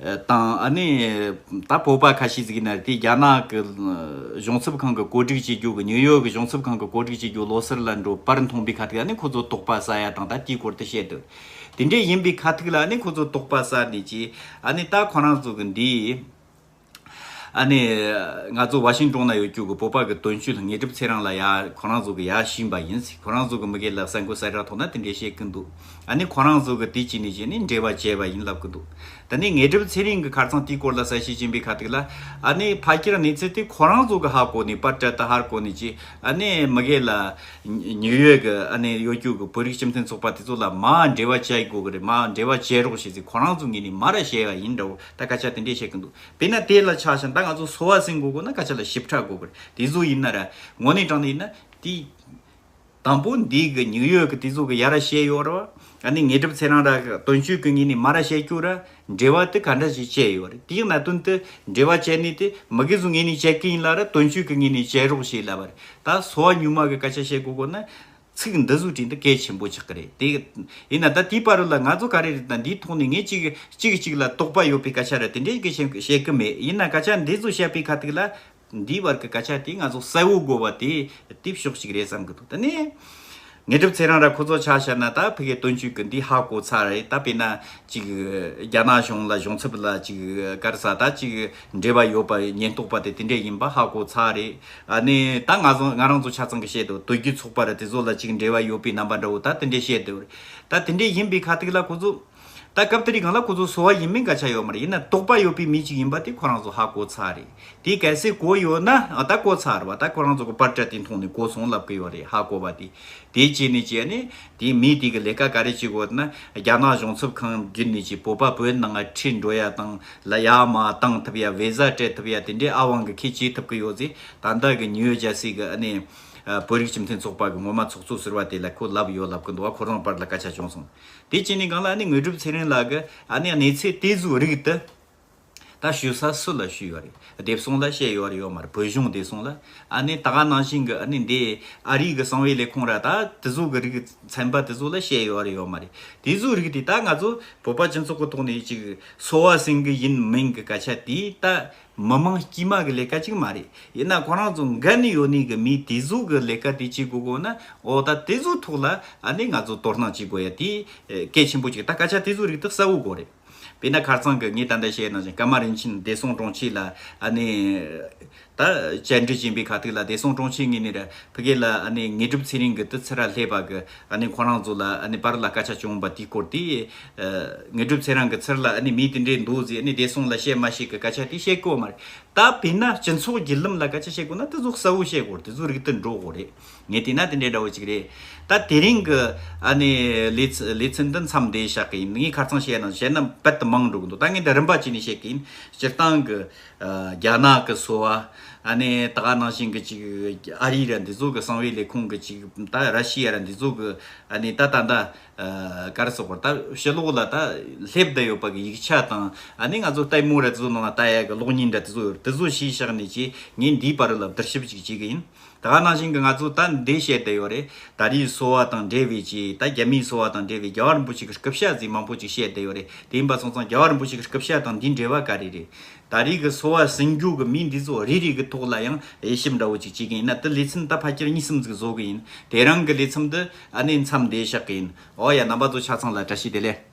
དང། ད་སྤོབས་པ་ཁ་ཤས་གཟིགས་ན་དེ་རྒྱ་ནག་གི་གཞུང་ཚབ་ཁང་གི་བཀོད་སྒྲིག་བྱེད་རྒྱུ་གི་ནིའུ་ཡོག་གི་གཞུང་ཚབ་ཁང་གི་བཀོད་སྒྲིག་བྱེད་རྒྱུ་ལོ་སར་ལ་འགྲོ་པར་མཐོང་པའི་ཁ་ཐུག་ནི་ཁོ་ཚོ་དོགས་པ་ཟ་ཡ་དང་ད་ལྟའི་སྐོར་དུ་བཤད་དུ། དེ་འདྲས་ཡིན་པའི་ཁ་ཐུག་ལ་ནི་ཁོ་ཚོ་དོགས་པ་ཟ་ནི་ཅི། ད་ཁོ་རང་ཚོ་གི་འདི། ང་ཚོ་བྷ་ཤིང་ཀྲོང་ན་ཡོད་རྒྱུ་གི་སྤོབས་པ་གི་དོན་ཤུལ་ངེས་གྲུབ་ཚེ་རང་ལ་ཡ་ཁོ་རང་ཚོ་གི་ཡ་བྱིན་པ་ཡིན། ཁོ་རང་ཚོ་གི་མི་གེ་ལ་ཟ་འགོ་ཟ་ར་ཐོག་ན་དེ་འདྲས་བཤད་ཀི་འདུག། ཨ་ནི་ཁོ་རང་ཚོ་གི་དུས་ཀྱི་ནུས་ཆེ་ནི་འབྲེལ་བ་བྱས་པ་ཡིན་ལབ་ཀི་འདུག་ད་ནི་ངེད་གྲུབ་ཚེ་རིང་གི་ཁར་ཚང་དེའི་སྐོར་ལ་ས་བྱེད་ཀྱིན་པའི་ཁ་ཐུག་ལ། ཨ་ནི་ཕ་ཁྱེར་གནས་ཚུལ་དེ་ཁོ་རང་ཚོ་གི་ཧ་གོ་ནས་པར་བྲལ་ད་ཧར་གོ་ནས་ཀྱི་ཨ་ནི་མི་གེ་ལ། ཉིའུ་ཡོད་གི་ཨ་ནི་གཡོ་སྒྱུ་གི་བོད་རིགས་སྤྱི་མཐུན་ཚོགས་པ་དེ་ཚོ་ལ་མ་འབྲེལ་བ་བྱེད་དགོ་གི་རེད་མ་འབྲེལ་བ་བྱེད་རོགས་བྱས་ཚེ་ཁོ་རང་ཚོ་ངེད་ནས་མ་ར་བྱས་ཡ་ཡིན་འདྲ་བོ་ད་སྐད་ཆ་དེ་འདྲས་བཤད་ཀི་འདུག་དཔེར་ན་དེ་ལ་ཆགས་ཞེན་ད་ང་ཚོ་སོ་བ་ཟིན་དགོ་གོ་ན་སྐད་ཆ་ལ་ཞིབ་ཕྲ་གོ་གི་རེད་དེ་ཟོ་ཡིན་ན་ར་ངོ་ནས་དྲང་ནས་ཡིན་ན་དེའི་དང་པོ་འདི་གི་ཉིག་ཡོད་ཀྱི་དེ་ཚོ་གི་ཡ་ར་ཤའི་ཡོ་རོ་ཨ་ནི་ངེད་གྲུབ་ཚེ་རང་ར་གི་དོན་ཆོས་ཀྱི་ཉིན་ནི་མ་ར་ཤའི་སྐྱུག་ར་འབྲེལ་བ་དེ་ག་འདྲ་ཞིག་བཅད་ཡོ་རེད་དེའི་ན་དོན་དེ་འབྲེལ་བ་བཅད་ནི་དེ་མི་གི་ཚོ་ངེད་ནི་བཅད་ཀི་ཡིན་ལ་ར་དོན་ཆོས་ཀྱི་ཉིན་ནི་བཅད་རོགས་ཞེས་ལབ་པ་རེད་ད་སོ་བ་ཉུང་མ་གི་སྐད་ཆ་བཤད་དགོས་གོ་ན་ཚིག་འདི་ཟུར་བྲིས་འདི་གལ་ཆེན་པོ་ཆགས་ཀི་རེད་དེ་ཡིན་ན་ད་དེའི་བར་རུ་ལ་ང་ཚོ་ག་རེ་རེད་ད་འདིའི་ཐོག་ནས་ངེད་གཅིག་གིས་གཅིག་གི་གཅིག་ལ་དོགས་པ་ཡོད་པའི་སྐད་ཆ་ར་དེ་འདྲས་ཀི་བཤད་ཀི་མེད་ཡིན་ན་སྐད་ཆ་འདི་ཚོ་བཤད་པའི་ཁ་ཐུག་ལ་འདིའི་བར་གྱི་སྐད་ཆ་དེ་ང་ཚོ་གསལ་བོ་དགོས་པ་དེ་དེབ་གཤོག་ཅིག་རེད་བསམ་གྱི་འདུག་ད་ནས་ངས་གྲུབ་ཚེ་རང་ར་ཁོ་ཚོ་ཆགས་ཤར་ན་ད་ཕི་གའི་དོན་གཅོད་གི་འདི་ཧ་གོ་ཚར་རེད་ད་དཔེ་ན་ཅིག་རྒྱ་ནག་གཞུང་ལ་གཞུང་ཚབ་ལ་ཅིག་སྐར་ས་ད་ཅིག་འབྲེལ་བ་ཡོད་པ་ཉེན་རྟོག་པ་དེ་དེ་འདྲས་ཡིན་པ་ཧ་གོ་ཚར་རེད་ཨ་ནི་ད་ང་ཚོ་ང་རང་ཚོ་ཆ་ཚང་གི་བཤད་འདུག་དོལ་རྒྱུད་ཚོགས་པར་དེ་ཚོ་ལ་ཅིག་འབྲེལ་བ་ཡོད་པའི་རྣམ་པ་འདྲ་བོ་ད་དེ་འདྲས་བཤད་འདུག་རེད་ད་དེ་འདྲས་ཡིན་པའི་ཁ་ཐིག་ལ་ཁོ་ཚོ། ད་སྐབས་དེ་རིགས་གང་ལ་ཁོ་ཚོ་གསོ་བ་ཡིན་མིན་ག་ཆ་ཡོད་མ་རེད་ཡིན་ན་དོགས་པ་ཡོད་པའི་མི་ཅིག་ཡིན་པ་དེ་ཁོ་རང་ཚོ་ཧ་གོ་ཚར་རེད་དེ་གལ་སྲིད་གོ་ཡོད་ན་ད་གོ་ཚར་བ་ད་ཁོ་རང་ཚོ་གི་པར་ཏྲ་དེ་མཐོང་ནས་གོ་སོང་ལབ་གི་ཡོད་རེད་ཧ་གོ་བ་དེ་དེ་བྱས་ནས་བྱས་ནས་དེ་མི་དེ་གི་ལས་ཀ་ག་རེ་བྱེད་དགོས་ན་རྒྱ་ནག་གཞུང་ཚབ་ཁང་བརྒྱུད་ནས་ཀྱི་བོད་པ་བོད་ནང་ཁྲིད་འགྲོ་ཡ་དང་ལ་ཡ་མ་བཏང་ཐུབ་ཡ་བེ་ཟ་སྤྲད་ཐུབ་ཡ་དེ་འདྲའི་ཨ་དབང་གི་ཁེ་བྱེད་ཐུབ་གི་ཡོད་ཚེ་ད་ལྟ་གི་ནིའུ་ཇར་སི་གི་ནས་བོད་རིགས་སྤྱི་མཐུན་ཚོགས་པ་གི་ངོ་མ་ཚོགས་གཙོ་ཟེར་བ་དེ་ལ་ཁོ་ལབ་ཡོད་ལབ་གི་འདུག་བ་ཁོ་རང་པར་ལ་སྐད་ཆ་བྱུང་སོང་དེ་བྱས་ནས་གང་ལ་ནི་དངོས་གྲུབ་ཚེ་རིང་ལགས་ཀྱི་ཨ་ནེ་གནས་ཚེ་བལྟས་གཟུགས་རིག་དུ་ད་ཞུ་ས་སུ་ལ་ཞུས་ཡོད་རེད་དེབ་སོང་ལ་བཤད་ཡོད་ཡོད་མར་བོད་གཞུང་བདེ་སོང་ལ་ཨ་ནེ་ད་ག་ནང་བཞིན་གྱི་ཨ་ནེ་འདས་ཨ་རིག་གི་གསང་བའི་ལས་ཁུངས་ར་ད་དེ་གཟུགས་ཀྱི་རིག་ཚན་པ་དེ་གཟུགས་ལ་བཤད་ཡོད་ཡོད་མ་རེད་དེ་གཟུགས་རིག་དེ་ད་ང་ཚོ་བོད་པ་སྤྱི་ཚོགས་ཀྱི་ཐོག་ནས་ཅིག་གསོ་བ་སིང་གི་ཡིན་མིན་གྱི་སྐད་ཆ་དེ་ད་མི་དམངས་དཀྱུས་མ་གི་ལས་ཀ་ཅིག་མ་རེད་ཡིན་ན་ཁོ་རང་ཚོ་འགན་ནུས་ཡོད་ནུས་ཀྱི་མིས་དེ་གཟུགས་ཀྱི་ལས་ཀ་དེ་བྱེད་དགོས་དགོས་ན་འོ་ད་དེ་གཟུགས་ཐོག་ལ་ཨ་ནི་ང་ཚོ་དོ་སྣང་བྱེད་དགོས་ཡ་དེ་གལ་ཆེན་པོ་ཅིག་ད་སྐད་ཆ་དེ་གཟུགས་རིག་དེ་གསལ་བོ་གོ་རེད་བས་ན་ཁར་ཚང་གི་ངས་ད་ལྟ་བཤད་ནང་བཞིན་སྐར་མ་རིན་ཆེན་བདེ་སྲུང་དྲུང་ཆེ་ལ་ཨ་ནི་ད་བཅར་འདྲི་བྱེད་པའི་ཁ་ཐུག་ལ་བདེ་སྲུང་དྲུང་ཆེ་ངེད་ནས་ར་ཕི་གེ་ལ་ཨ་ནི་ངེད་སྒྲུབ་ཚེ་རིང་གི་དུ་ཚེ་ར་ལྷས་པ་གི་ཁོ་རང་ཚོ་ལ་པར་ལ་སྐད་ཆ་བྱུང་བ་དེའི་སྐོར་དེ། ངེད་སྒྲུབ་ཚེ་རང་གི་ཚུར་ལ་མི་དེ་འདྲས་འདུག་ཟེར་ནས་བདེ་སྲུང་ལ་བཤད་མ་ཞིག་གི་སྐད་ཆ་དེ་བཤད་དགོས་མ་རེད། ད་བོད་ན་སྤྱི་ཚོགས་བརྒྱུད་ལམ་ལ་སྐད་ཆ་བཤད་དགོས་ན་དེ་ཚོ་གསལ་བོ་བཤད་དགོས་དེ་ཚོ་རིག་ཏུ་འགྲོ་དགོས་རེད། ངས་བལྟས་ན་དེ་འདྲས་འདྲ་བོ་ཅིག་རེད། ད་དེ་རིང་གི་ལེ་ཚན་འདི་མཚམས་འདེད་བྱ་གི་ཡིན། ངས་ཁ་ཚང་བཤད་ན་བཤད་ན་བལ་དུ་མང་འགྲོ་གི་འདུག་ད་ངས་འདི་རིམ་པ་བྱས་ནས་བཤད་གི་ཡིན། སྤྱིར་བཏང་གི། རྒྱ་ནག་གི་གསོ་བ། ཨ་ནེ་ད་ག་ནང་བཞིན་གྱི་ཅིག་ཨ་རིའི་ར་འདི་ཚོ་གི་གསང་བའི་ལས་ཁུངས་ཀྱི་ཅིག་ད་ར་ཤི་ཡ་ར་འདི་ཚོ་གི་ཨ་ནེ་ད་ད་ད་གར་སོགས་པར་ད་ཕྱི་ལོགས་ལ་ད་སླེབས་བསྡད་ཡོད་པ་གི་ཡིག་ཆ་དང་ཨ་ནེ་ང་ཚོ་ལྟད་མོ་ར་འདི་ཚོ་ནང་ལ་ད་ཡ་གི་གློག་བརྙན་འདྲ་འདི་ཚོ་ཡོད་ར་འདི་ཚོ་ཤེས་ཤག་ནས་ཅིག་ངས་འདིའི་བར་ལ་བསྡུར་ཞིབ་ཅིག་བྱེད་གི་ཡིན། ད་ག་ནང་བཞིན་གྱི་ང་ཚོ་ད་འདི་བཤད་བསྡད་ཡོད་རེད་ད་རིའི་སོ་བ་དང་འབྲེལ་བའི་ཆེད་ད་རྒྱ་མིའི་སོ་བ་དང་འབྲེལ་བའི་རྒྱ་བ་རིན་པོ་ཆེ་གི་སྐུ་བཤད་ཟིག་མང་པོ་ཅིག་བཤད་བསྡད་ཡོད་རེད་དེ་ཡིན་པ་སོང་ཙང་རྒྱ་བ་རིན་པོ་ཆེ་གི་སྐུ་བཤད་དང་འདིའི་འབྲེལ་བ་ག་རེ་རེད་ད་རིའི་གི་སོ་བ་ཟིང་རྒྱུ་གི་མི་འདི་ཚོ་རེ་རེ་གི་ཐོག་ལ་ཡང་དབྱེ་ཞིབ་འདྲ་བོ་ཅིག་བྱེད་གི་ཡིན་ན་དེ་ལས་ཚིན་ད་ཕ་ཁྱེར་གཉིས་གསུམ་ཟིག་བཟོ་གི་ཡིན་དེ་རང་གི་ལས་མཚམས་དེ་ཨ་ནེ་མཚམས་འདས་བཞག་གི་ཡིན་འོ་ཡ་རྣམ་པ་ཚོ་ཆ་ཚང་ལ་བཀྲ་ཤིས་བདེ་ལེགས།